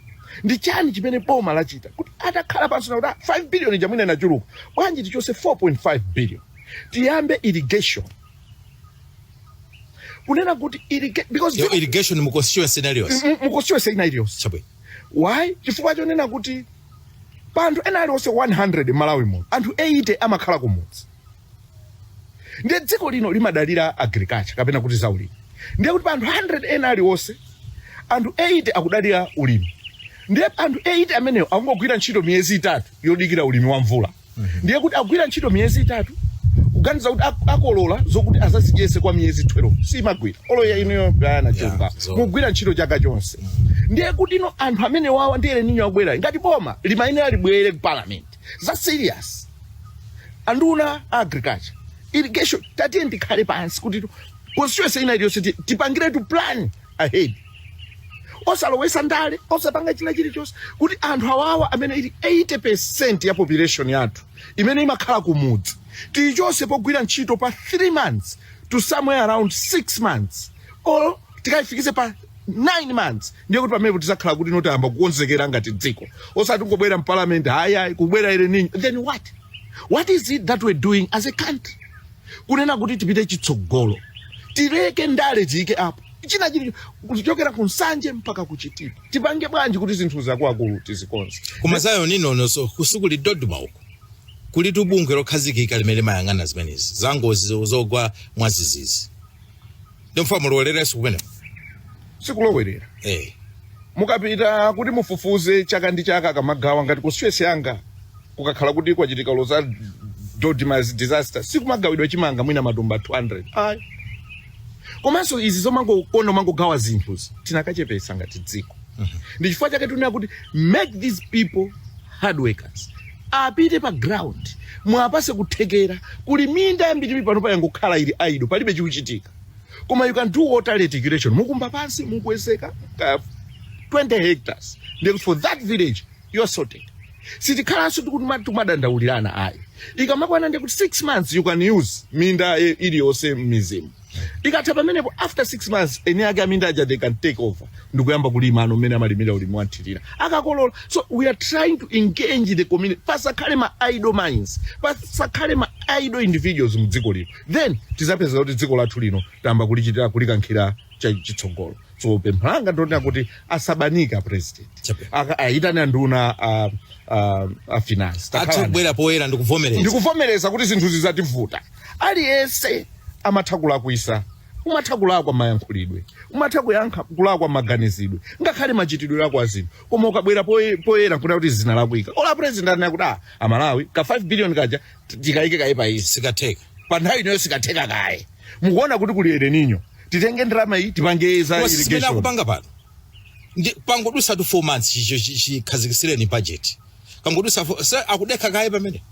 ndi chani chimene boma lachita kuti atakhala pansi nakuti "Ah, 5 billion ija mwina inachuluka bwanji tichose 4.5 billion tiyambe irrigation kunena kuti irriga- because Yo, irrigation mu constituency inaliyonse mu constituency ina iliyonse chabwino why chifukwa chonena kuti pa anthu ena aliwonse 100 m'malawi muno anthu 80 amakhala kumudzi ndiye dziko lino limadalira agriculture kapena kuti za ulimi ndiye kuti pa anthu 100 ena aliwonse anthu 80 akudalira ulimi ndiye anthu 80 amenewo akungogwira ntchito miyezi itatu yodikira ulimi wa mvula ndiye kuti akugwira ntchito miyezi itatu kuganiza kuti ak- akolola zokuti azazidyese kwa miyezi 12 simagwira olo inuyo bayana chomba zo- mugwira ntchito chaka chonse ndiye kuti ino anthu amene wawa ndi El Nino akubwerayi ngati boma limayenera libwere ku parliament za serious anduna a agriculture irrigation tatiyeni tikhale pansi kuti constituency ina iliyonse ti- tipangiretu plan ahead osalowesa ndale osapanga china chilichonse kuti anthu awawa amene ili 80 percent ya population yathu imene imakhala kumudzi tiyichose pogwira ntchito pa 3 months to somewhere around 6 months or tikayifikise pa 9 months ndiye kuti pamenepo tizakhala kuti notayamba kukonzekera ngati dziko osati kungobwera mpalamenti ayi kubwera El Nino then what what is it that we're doing as a country kunena kuti tipite chitsogolo tileke ndale tiyike apo china chili kuchokera ku nsanje mpaka ku chitipa tipange bwanji kuti zinthu zakuakulu tizikonze koma za El Ninonso uku kuli DoDMA uku kulitu bungwe lokhazikika limene limayang'ana zimenezi zangozi zogwa mwazizizi ndifuna mulowererenso kumeneko sikulowerera eh mukapita kuti mufufuze chaka ndi chaka akamagawa ngati constituency yanga kukakhala kuti kwachitika loza DoDMA disaster sikumagawidwa chimanga mwina matumba 200 ayi komanso izi zomangokonda kumangogawa zinthuzi tinakachepesa ngati dziko ndi chifukwa chake tunena kuti make these people hard workers apite pa ground mwapase kuthekera kuli minda yambiri panopa yangokhala ili idle palibe chikuchitika koma you can do water reticulation mukumba pansi mukuwezeka ka 20 hectares then for that village you are sorted sitikhalanso tikutuma- tikumadandaulirana ayi ikamakwana ndekuti 6 months you can use minda eh, iliyonse m'midzimu ikatha pamenepo after six months eni ake aminda aja they can take over ndikuyamba kulima ano mmene amalimira ulimi wanthirira akakolola so we are trying to engage the community pasakhale ma idle minds pasakhale ma idle individuals mu dziko lino then tizapeza kuti dziko lathu lino tayamba kulichitira kulikankhira cha- chitsogolo so pempho langa ndonena kuti asabanika president Aka- ayitane anduna a, a, a finance athe Takhalani. kubwera poyera ndikuvomereza ndikuvomereza kuti zinthu zizativuta Aliyense amatha kulakwisa. Umatha kulakwa mayankhulidwe. Umatha kuyankha kulakwa maganizidwe. Ngakhale machitidwe ako azinthu. Koma ukabwera poye- poyera nkunena kuti zinalakwika. Olo president anena kuti ah, amalawi ka 5 billion kaja ti- tikayike kaye pa izi. Sikatheka. Pa nthawi inoyo sikatheka kaye. Mukuona kuti kuli El Nino. Titenge ndalama iyi tipange za Koma si zimene irrigation. akupanga pano ndi pangodusatu 4 months chicho chikhazikisireni budget pangodusatu akudekha kaye pamene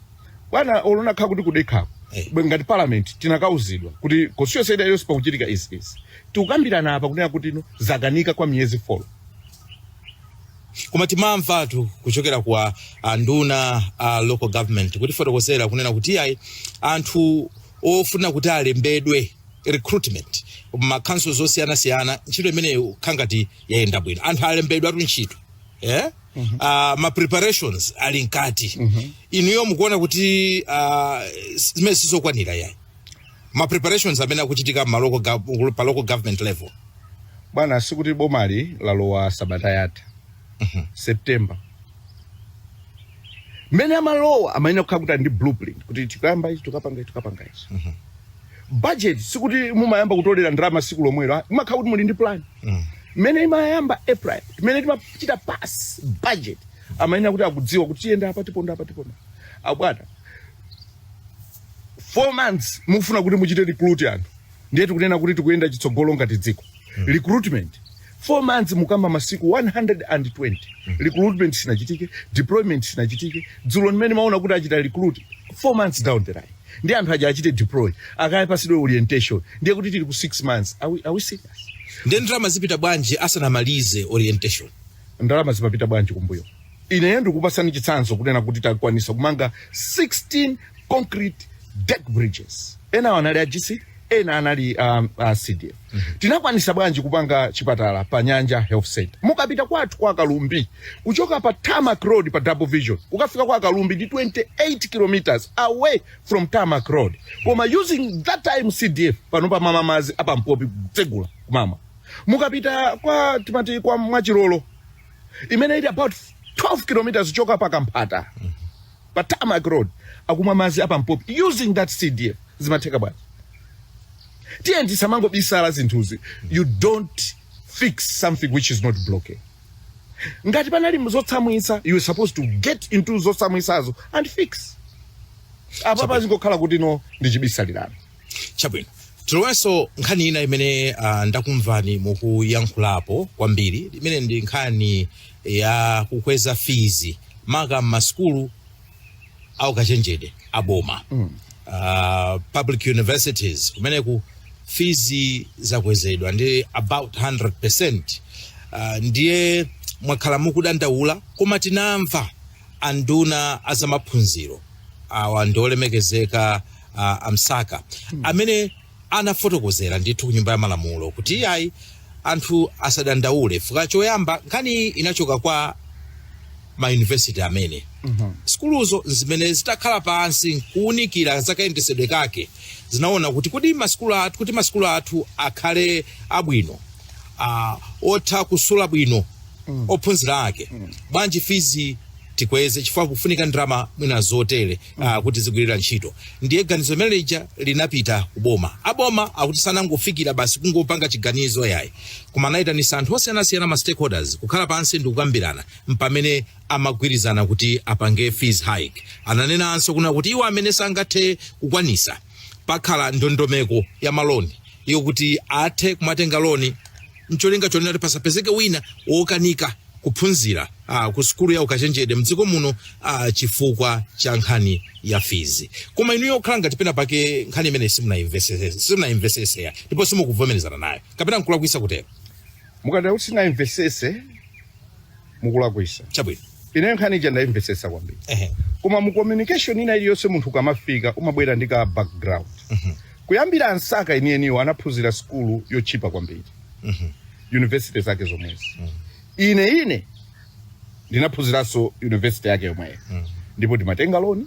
bwana olo ndakhala kuti kudekhako Eh. Bwe ngati parliament tinakauzidwa kuti constituency ina iliyonse pakuchitika izi izi tikukambirana apa kunena kuti izi zakanika kwa miyezi 4 koma timamvatu kuchokera kwa anduna a local government kutifotokozera kunena kuti iyayi anthu ofuna kuti alembedwe recruitment m'ma councils osiyanasiyana ntchito imeneyo ikukhala ngati yayenda bwino anthu alembedwatu ntchito eh? uh, ma preparations ali mkati inuyo mukuona kuti uh, zimene sizokwanira yayi ma preparations amene akuchitika m'ma local gov- pa local government level bwana sikuti bomali lalowa sabata yatha September mmene amalowa amayenera kukhala kuti ali ndi blueprint kuti tikayamba ichi tikapanga ichi tikapanga ichi budget sikuti mumayamba kutolera ndalama tsiku lomwelo ah, imakhala kuti muli ndi plan mmene imayamba april mmene timachita pass budget amayenera kuti akudziwa kuti tiyenda apa tiponda apa tiponda apo bwana four months mukufuna kuti muchite recruit anthu ndiye tikunena kuti tikuyenda chitsogolo ngati dziko recruitment 4 months mukamba masiku 120 recruitment sinachitike deployment sinachitike dzulo mmene mumaona kuti achita recruit 4 months down the line ndiye anthu aja achite deploy akapatsidwe orientation ndiye kuti tili ku 6 months are we, are we serious ndiye ndalama zipita bwanji asanamalize orientation ndalama zimapita bwanji kumbuyo Ine ndikupatsani chitsanzo kunena kuti takwanisa kumanga 16 concrete deck bridges. Enawo anali a GC, ena anali um, a CDF. Tinakwanisa bwanji kumanga chipatala pa Nyanja Health Center. Mukapita kwathu kwa Kalumbi, kuchoka pa Tarmac Road pa Double Vision, kukafika kwa Kalumbi ndi 28 kilometers away from Tarmac Road. Koma using that time CDF pano akumamwa madzi apa mpopi kutsegula kumamwa. Mukapita kwa timati kwa mwachilolo imene ili about 12 kilometers kuchoka pa kamphata pa tarmac road akumwa madzi apampopi using that cdf zimatheka bwanji tiyeni tisamangobisala zinthuzi you don't fix something which is not broken ngati panali zotsamwitsa you are supposed to get into zotsamwitsazo and fix apa zangokhala kuti no ndichibisalirana chabwino tilowenso nkhani ina imene uh, ndakumvani mukuyankhulapo kwambiri imene ndi nkhani ya kukweza fizi maka m'masukulu aukachenjede aboma mm. uh, public universities kumeneku fizi zakwezedwa ndi about 100 percent uh, ndiye mwakhala mukudandaula koma tinamva anduna azamaphunziro awa ndiolemekezeka a, a msaka amene anafotokozera ndithu ku nyumba ya malamulo kuti iyayi anthu asadandaule fuka choyamba nkhani iyi inachoka kwa mayunivesiti amene sukuluzo zimene zitakhala pansi nkuunikira zakayendesedwe kake zinaona kuti kuti masikulu athu kuti masikulu athu akhale abwino ah, otha kusula bwino ophunzira ake bwanji fizi tikweze chifukwa pakufunika ndalama mwina zotere uh, kuti zigwire ntchito ndiye ganizo limene lija linapita kuboma aboma akuti sanangofikira basi kungopanga chiganizo yayi koma anayitanisa anthu osiyanasiyana ma stakeholders kukhala pansi ndi kukambirana mpamene amagwirizana kuti apange fees hike ananenanso kunena kuti iwo amene sangathe kukwanisa pakhale ndondomeko ya maloni iyo kuti athe kumatenga loni mcholinga chonena kuti pasapezeke wina wokanika kuphunzira a, ku sukulu ya ukachenjede mdziko muno a, chifukwa cha nkhani ya fizi koma inuyo kukhala ngati pena pake nkhani imene simunayimvesese simunayimveseseya ndipo simukuvomerezana nayo kapena nkulakwisa kutero mukati kuti sinayimvesese mukulakwisa chabwino ine nkhani ija ndayimvesesa kwambiri ehe koma mu communication ina iliyonse munthu ukamafika umabwera ndi ka background kuyambira a msaka enieniwo anaphunzira sukulu yotchipa kwambiri university zake zomwezi ine ine ndinaphunziranso university yake yomweyo ndipo ndimatenga loni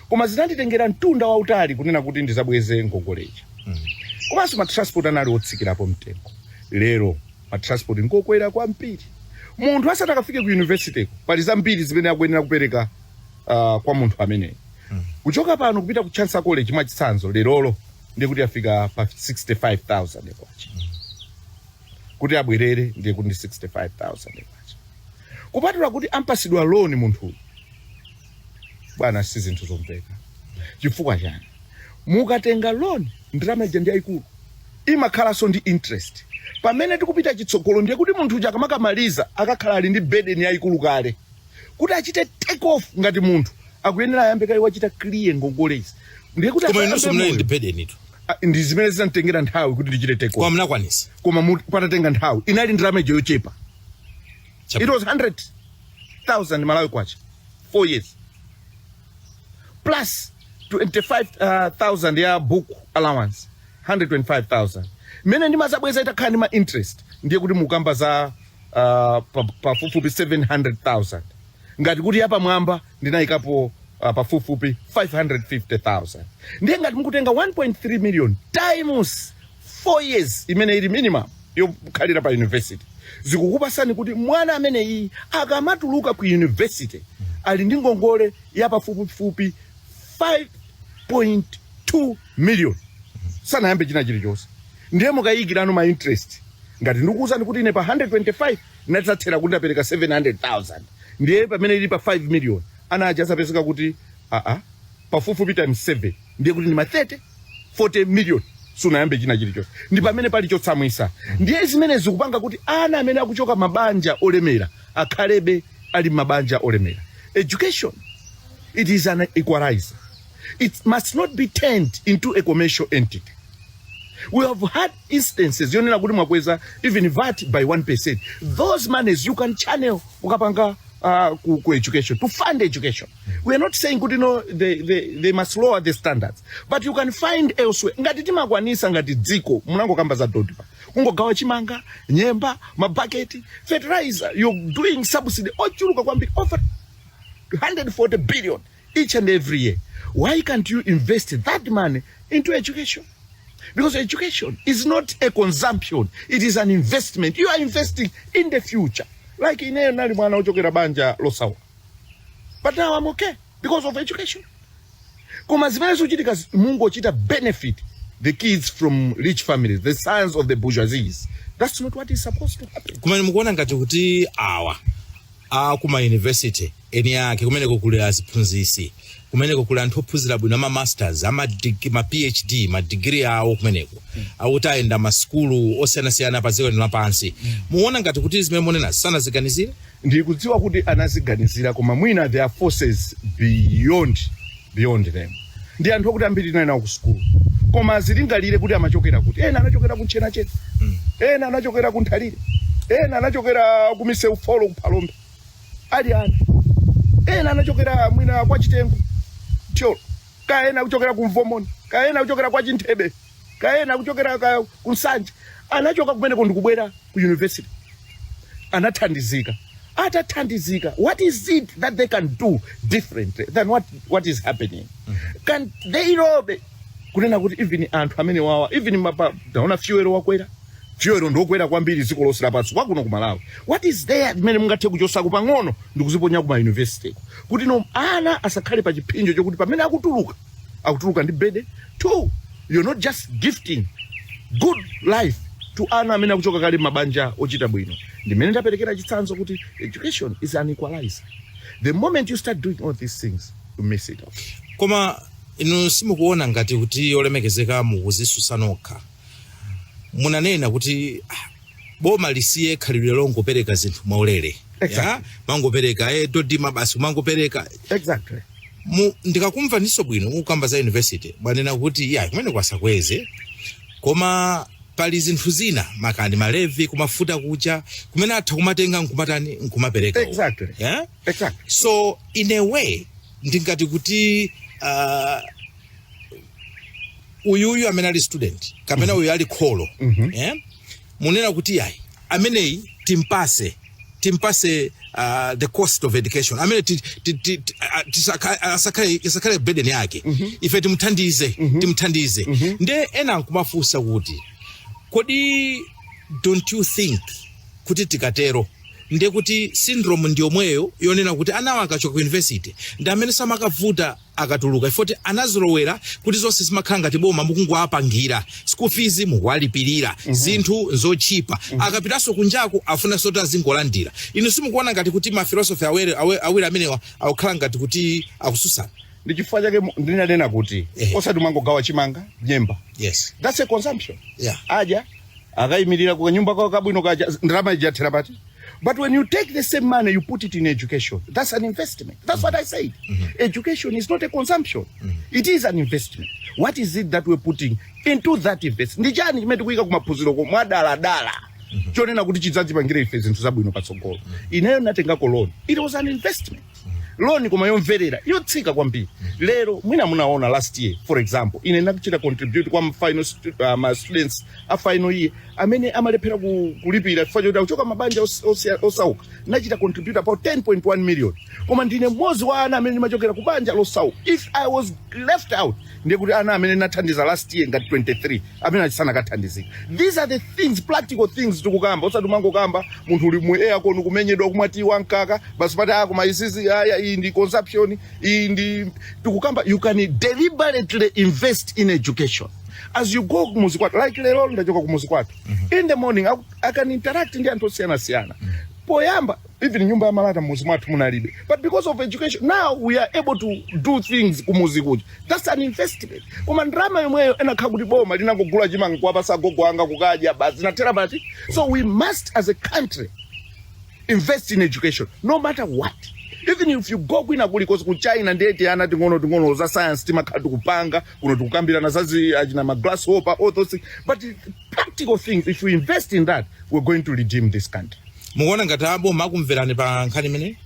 koma zinanditengera mtunda wautali kunena kuti ndizabweze ngongole ija komanso matransport anali otsikirapo mtengo lero matransport ngokwera kwambiri munthu asanati akafike ku university pali zambiri zimene akuyenera kupereka uh, kwa munthu ameneyo kuchoka pano kupita ku chancellor college mwachitsanzo lerolo ndikuti afika pa 65000 kwacha kuti abwerere ndiye kuti ndi 65000 kwacha kupatula kuti ampasidwe loan munthu bwana si zinthu zomveka chifukwa chani mukatenga loan ndalama ija ndi yayikulu imakhalanso ndi interest pamene tikupita chitsogolo ndiye kuti munthu uja akamakamaliza akakhala ali ndi burden yayikulu kale kuti achite take off ngati munthu akuyenera ayambe kaye kuchita clear ngongole izi ndiye kuti koma inunso asayambe munali moyo. ndi burdentu Ah, ndi zimene zinanditengera nthawi kuti ndichite take koma over. munakwanisa koma mu- patatenga nthawi inali ndalama ija yochepa it was 100,000 malawi kwacha 4 years plus 25,000 ya book allowance 125,000 mene ndimazabweza itakhala ndi ma interest ndiye kuti mukamba za uh, pafupifupi 700,000 ngati kuti yapamwamba ndinayikapo uh, pafupifupi 550,000 ndiye ngati mukutenga 1.3 million times 4 years imene ili minimum yokhalira pa university zikukupasani kuti mwana amene iyi akamatuluka ku university ali ndi ngongole ya pafupifupi 5.2 million sanayambe china chilichonse ndiye mukayikirano ma interest ngati ndikuwuzani kuti ine pa 125 ndinadzathera kuti ndapereka 700,000 ndiye pamene ili pa 5 million ana aja adzapezeka kuti aa pafupifupi times 7 ndiye kuti ndi ma 30 40 million sunayambe china chilichonse ndi pamene pali chotsamwisa ndiye zimene zikupanga kuti ana amene akuchoka mabanja olemera akhalebe ali mabanja olemera education it is an equalizer it must not be turned into a commercial entity we have had instances yonena kuti mwakweza even vat by 1% those monies you can channel ukapanga uh, ku, ku education to fund education we are not saying kuti no they, they, they must lower the standards but you can find elsewhere ngati timakwanisa ngati dziko munangokamba za dodma kungogawa chimanga nyemba mabaketi fertilizer you're doing subsidy yochuluka kwambiri over 140 billion each and every year why can't you invest that money into education because education is not a consumption it is an investment you are investing in the future like ineyo nali mwana ochokera banja losawa but now i'm okay because of education koma zimene zikuchitika zi- mungochita benefit the kids from rich families the sons of the bourgeoisies that's not what is supposed to happen kumene mukuona ngati kuti awa aku ma university eni ake kumeneko kuli aziphunzisi kumeneko kuli anthu ophunzira bwino ama masters ama dig- ma phd ma degree awo kumeneko okuti ayenda m'masukulu osiyanasiyana pa dziko lino lapansi muona ngati kuti zimene munena sanaziganizire ndikudziwa kuti anaziganizira koma mwina there are forces beyond beyond them ndi anthu okuti ambiri tinali nawo ku sukulu koma azilingalire kuti amachokera kuti ena anachokera ku ntchenachena ena anachokera ku nthalire ena anachokera kwa miseu folo ku phalombe ali ana ena anachokera mwina kwa chitengo thyolo kaya ena kuchokera ku mvomoni kaya ena kuchokera kwa chinthebe kaya ena kuchokera ka ku nsanje anachoka kumeneko ndikubwera ku university anathandizika atathandizika what is it that they can do different than what, what is happening can they lobby kunena kuti even anthu amene awa even mapa taona fuel wakwera fuel ndiokwera kwambiri dziko lonse lapansi kwa kuno ku malawi what is there imene mungathe kuchotsa pang'ono ndikuziponya ku ma university kuti no ana asakhale pa chipsinjo chokuti pamene akutuluka akutuluka ndi burden two you're now just gifting good life to ana amene akuchoka kale mabanja ochita bwino ndimene ndaperekera chitsanzo kuti education is an equalizer the moment you start doing all these things you miss it out koma inu simukuona ngati kuti olemekezeka mukuzisusa nokha munanena kuti ah, boma lisiye khalidwe longopereka zinthu mwaulere Exactly. ya kumangopereka eh, dodima basi kumangopereka exactly mu ndikakumvaniso bwino mukukamba za university mwanena kuti ayi kumene kwa asakweze koma pali zinthu zina makamaka malevi kumafuta kuja kumene atha kumatenga nkumatani nkumapereka uko. Exactly. yeah? exactly so in a way ndingati kuti uh, uyu uyu amene ali student kapena uyu ali kholo eh? mukunena kuti ayi ameneyi timpase timpase uh, the cost of education amene ti- ti- ti- ti- a- tisaka- asakhale isakhale burden yake ife timuthandize timuthandize nde ena nkumafunsa kuti kodi don't you think kuti tikatero ndiye kuti syndrome ndiyomweyo yonena kuti anawa akachoka ku university ndi amene samakavuta akatuluka chifukwa kuti anazolowera kuti zonse zimakhala ngati boma mukungowapangira school fees mukuwalipirira zinthu zotchipa akapitanso kunjako afunanso kuti azingolandira inu simukuona ngati kuti mafilosofi awiri awe- awiri amenewa akukhala ngati kuti akutsutsana ndi chifukwa chake mu- ndinanena kuti Eh. osati umangogawa chimanga nyemba yes that's a consumption Yeah. adya akayimirira ku kanyumba kawo kabwino kaja ndalama ija yathera pati but when you take the same money you put it in education that's an investment that's what i said education is not a consumption it is an investment what is it that we're putting into that investment ndi chani chimene tikuyika kumaphunziro ko mwadaladala chonena kuti chidzatipangire ife zinthu zabwino patsogolo ineyo natengako loan it was an investment loan koma yobwerera yotsika kwambiri lero mwina munaona last year for example ine ndinachita contribute kwa final stu, uh, ma students a final year amene amalephera ku, kulipira chifukwa choti akuchoka mabanja os- osia- osauka ndinachita contribute about 10.1 million koma ndine mmodzi wa ana amene ndimachokera ku banja losauka if i was left out ndiye kuti ana amene ndinathandiza last year ngati 23 amene achi sanakathandizika these are the things practical things tikukamba osati umangokamba munthu uli mu aircon kumenyedwa kumwa tiyi wamkaka basi pati ah koma izizi ayi iyi ndi consumption iyi ndi tikukamba you can deliberately invest in education as you go kumuzi kwathu like lero ndachoka kumuzi kwathu in the morning I, I can interact ndi anthu osiyanasiyana poyamba even nyumba ya malata mmuzi mwathu munalibe but because of education now we are able to do things kumuzi kuja that's an investment koma ndalama yomweyo ikanakhala kuti boma linangogula chimanga kuwapasa agogo anga kudya basi zikanathera pati so we must as a country invest in education no matter what even if you go kwina kulikonse ku china ndiye tiana ting'ono ting'ono za science timakhala tikupanga kuno tikukambirana zazi achina ma grasshopper all those things but practical things if we invest in that we're going to redeem this country Mukuona ngati a boma akumverani pa nkhani imeneyi?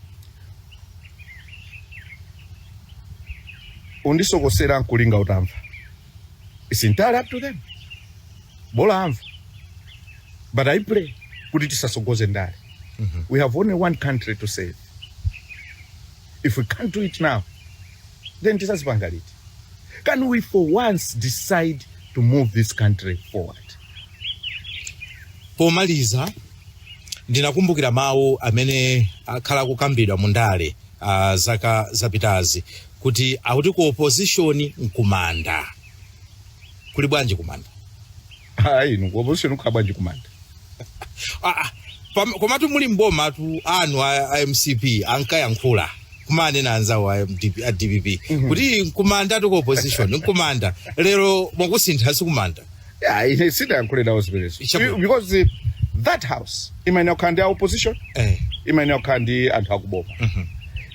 kundisokosera nkulinga utamva its entirely up to them bola amva but i pray kuti tisatsogoze ndale we have only one country to save if we can't do it now then tidzazipanga liti can we for once decide to move this country forward pomaliza ndinakumbukira mawu amene akhala akukambidwa mu ndale uh, zaka zapitazi kuti akuti ku opposition nkumanda kuli bwanji kumanda ayi inu ku opposition kukhala bwanji kumanda Ah, ah, pam- komatu muli mbomatu anthu a, a mcp ankayankhula kumanena anzawo a, MDP, a dpp kuti nkumandatu ku opposition nkumanda lero mwakusintha sikumanda yeah, ine sidayankhule nawo zimenezo Ichabu- because eh, that house imayenera kukhala ndi a opposition eh. imayenera kukhala ndi anthu akuboma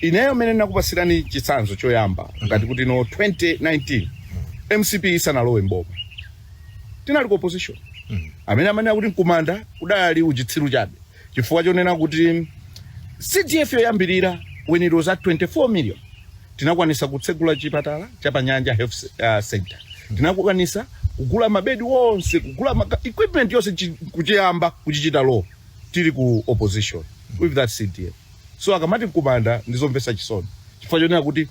ineyo mene nakupatsirani chitsanzo choyamba ngati kuti no 2019 mcp isanalowe mboma tinali ku opposition amene amanena kuti mkumanda kudali uchitsiru chabe chifukwa chonena kuti cdf yoyambirira when it was at 24 million tinakwanisa kutsegula chipatala cha panyanja health se- ah, center tinakwanisa kugula mabedi onse kugula maka, equipment yonse chi- kuchiyamba kuchichita roof tili ku opposition with that cdf so akamati mkumanda ndizomvetsa chisoni chifukwa chonena kuti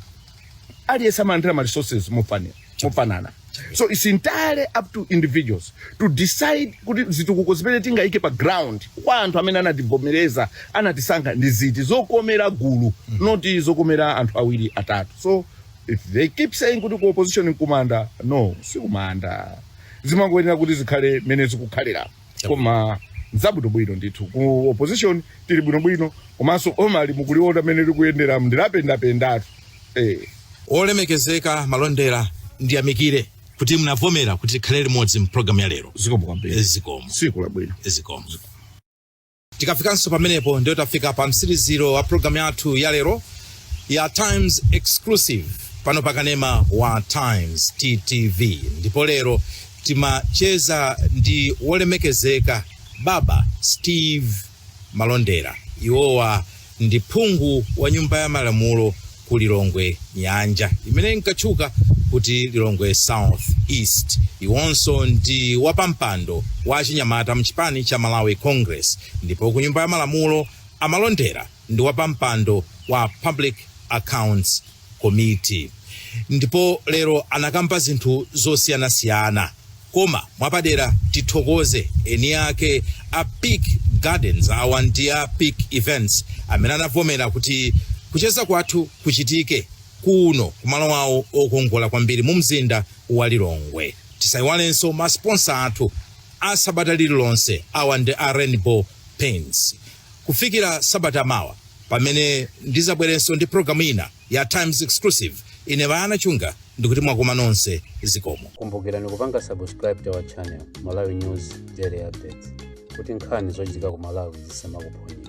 aliyense amalandira ma resources mofani- mofanana so its entirely up to individuals to decide kuti zitukuko zimene tingayike pa ground kwa anthu amene anativomereza anatisankha ndi ziti zokomera gulu ndi ziti zokomera anthu awiri atatu so if they keep saying kuti ku opposition nkumanda no sikumanda zimangoyenera kuti zikhale mmene zikukhalira koma nzabwinobwino ndithu ku opposition tili bwinobwino komanso boma ili mukuliona mmene likuyendera ndilapendapendatu eh. olemekezeka malondera ndiyamikire kuti munavomera kuti tikhale limodzi mprogramu ya lero zikomo kwambiri zikomo tsiku labwino zikomo tikafikanso pamenepo ndiyo tafika pa mtsiriziro wa programu yathu ya lero ya times exclusive pano pa kanema wa times tv ndipo lero timacheza ndi wolemekezeka baba steve malondera iwowa ndi phungu wa nyumba ya malamulo ku lilongwe nyanja imene inkatchuka kuti lilongwe south east iwonso ndi wapampando wa achinyamata mchipani cha malawi congress ndipo ku nyumba ya malamulo a malondera ndi wapampando wa public accounts komiti ndipo lero anakamba zinthu zosiyanasiyana koma mwapadera tithokoze eni ake a peak gardens awa ndi a peak events amene anavomera kuti kucheza kwathu kuchitike kuno kumalo awo okongola kwambiri mu mzinda wa lilongwe tisayiwalenso masponsa athu a sabata lililonse awa ndi a rainbow paints Kufikira sabata mawa pamene ndizabwerenso ndi pulogalamu ina ya Times Exclusive, ine Bayana Chunga ndikuti mwakoma nonse zikomo. Kumbukirani kupanga subscribe to our channel Malawi News Daily Updates kuti nkhani zochitika ku Malawi zisamakuphonyeni.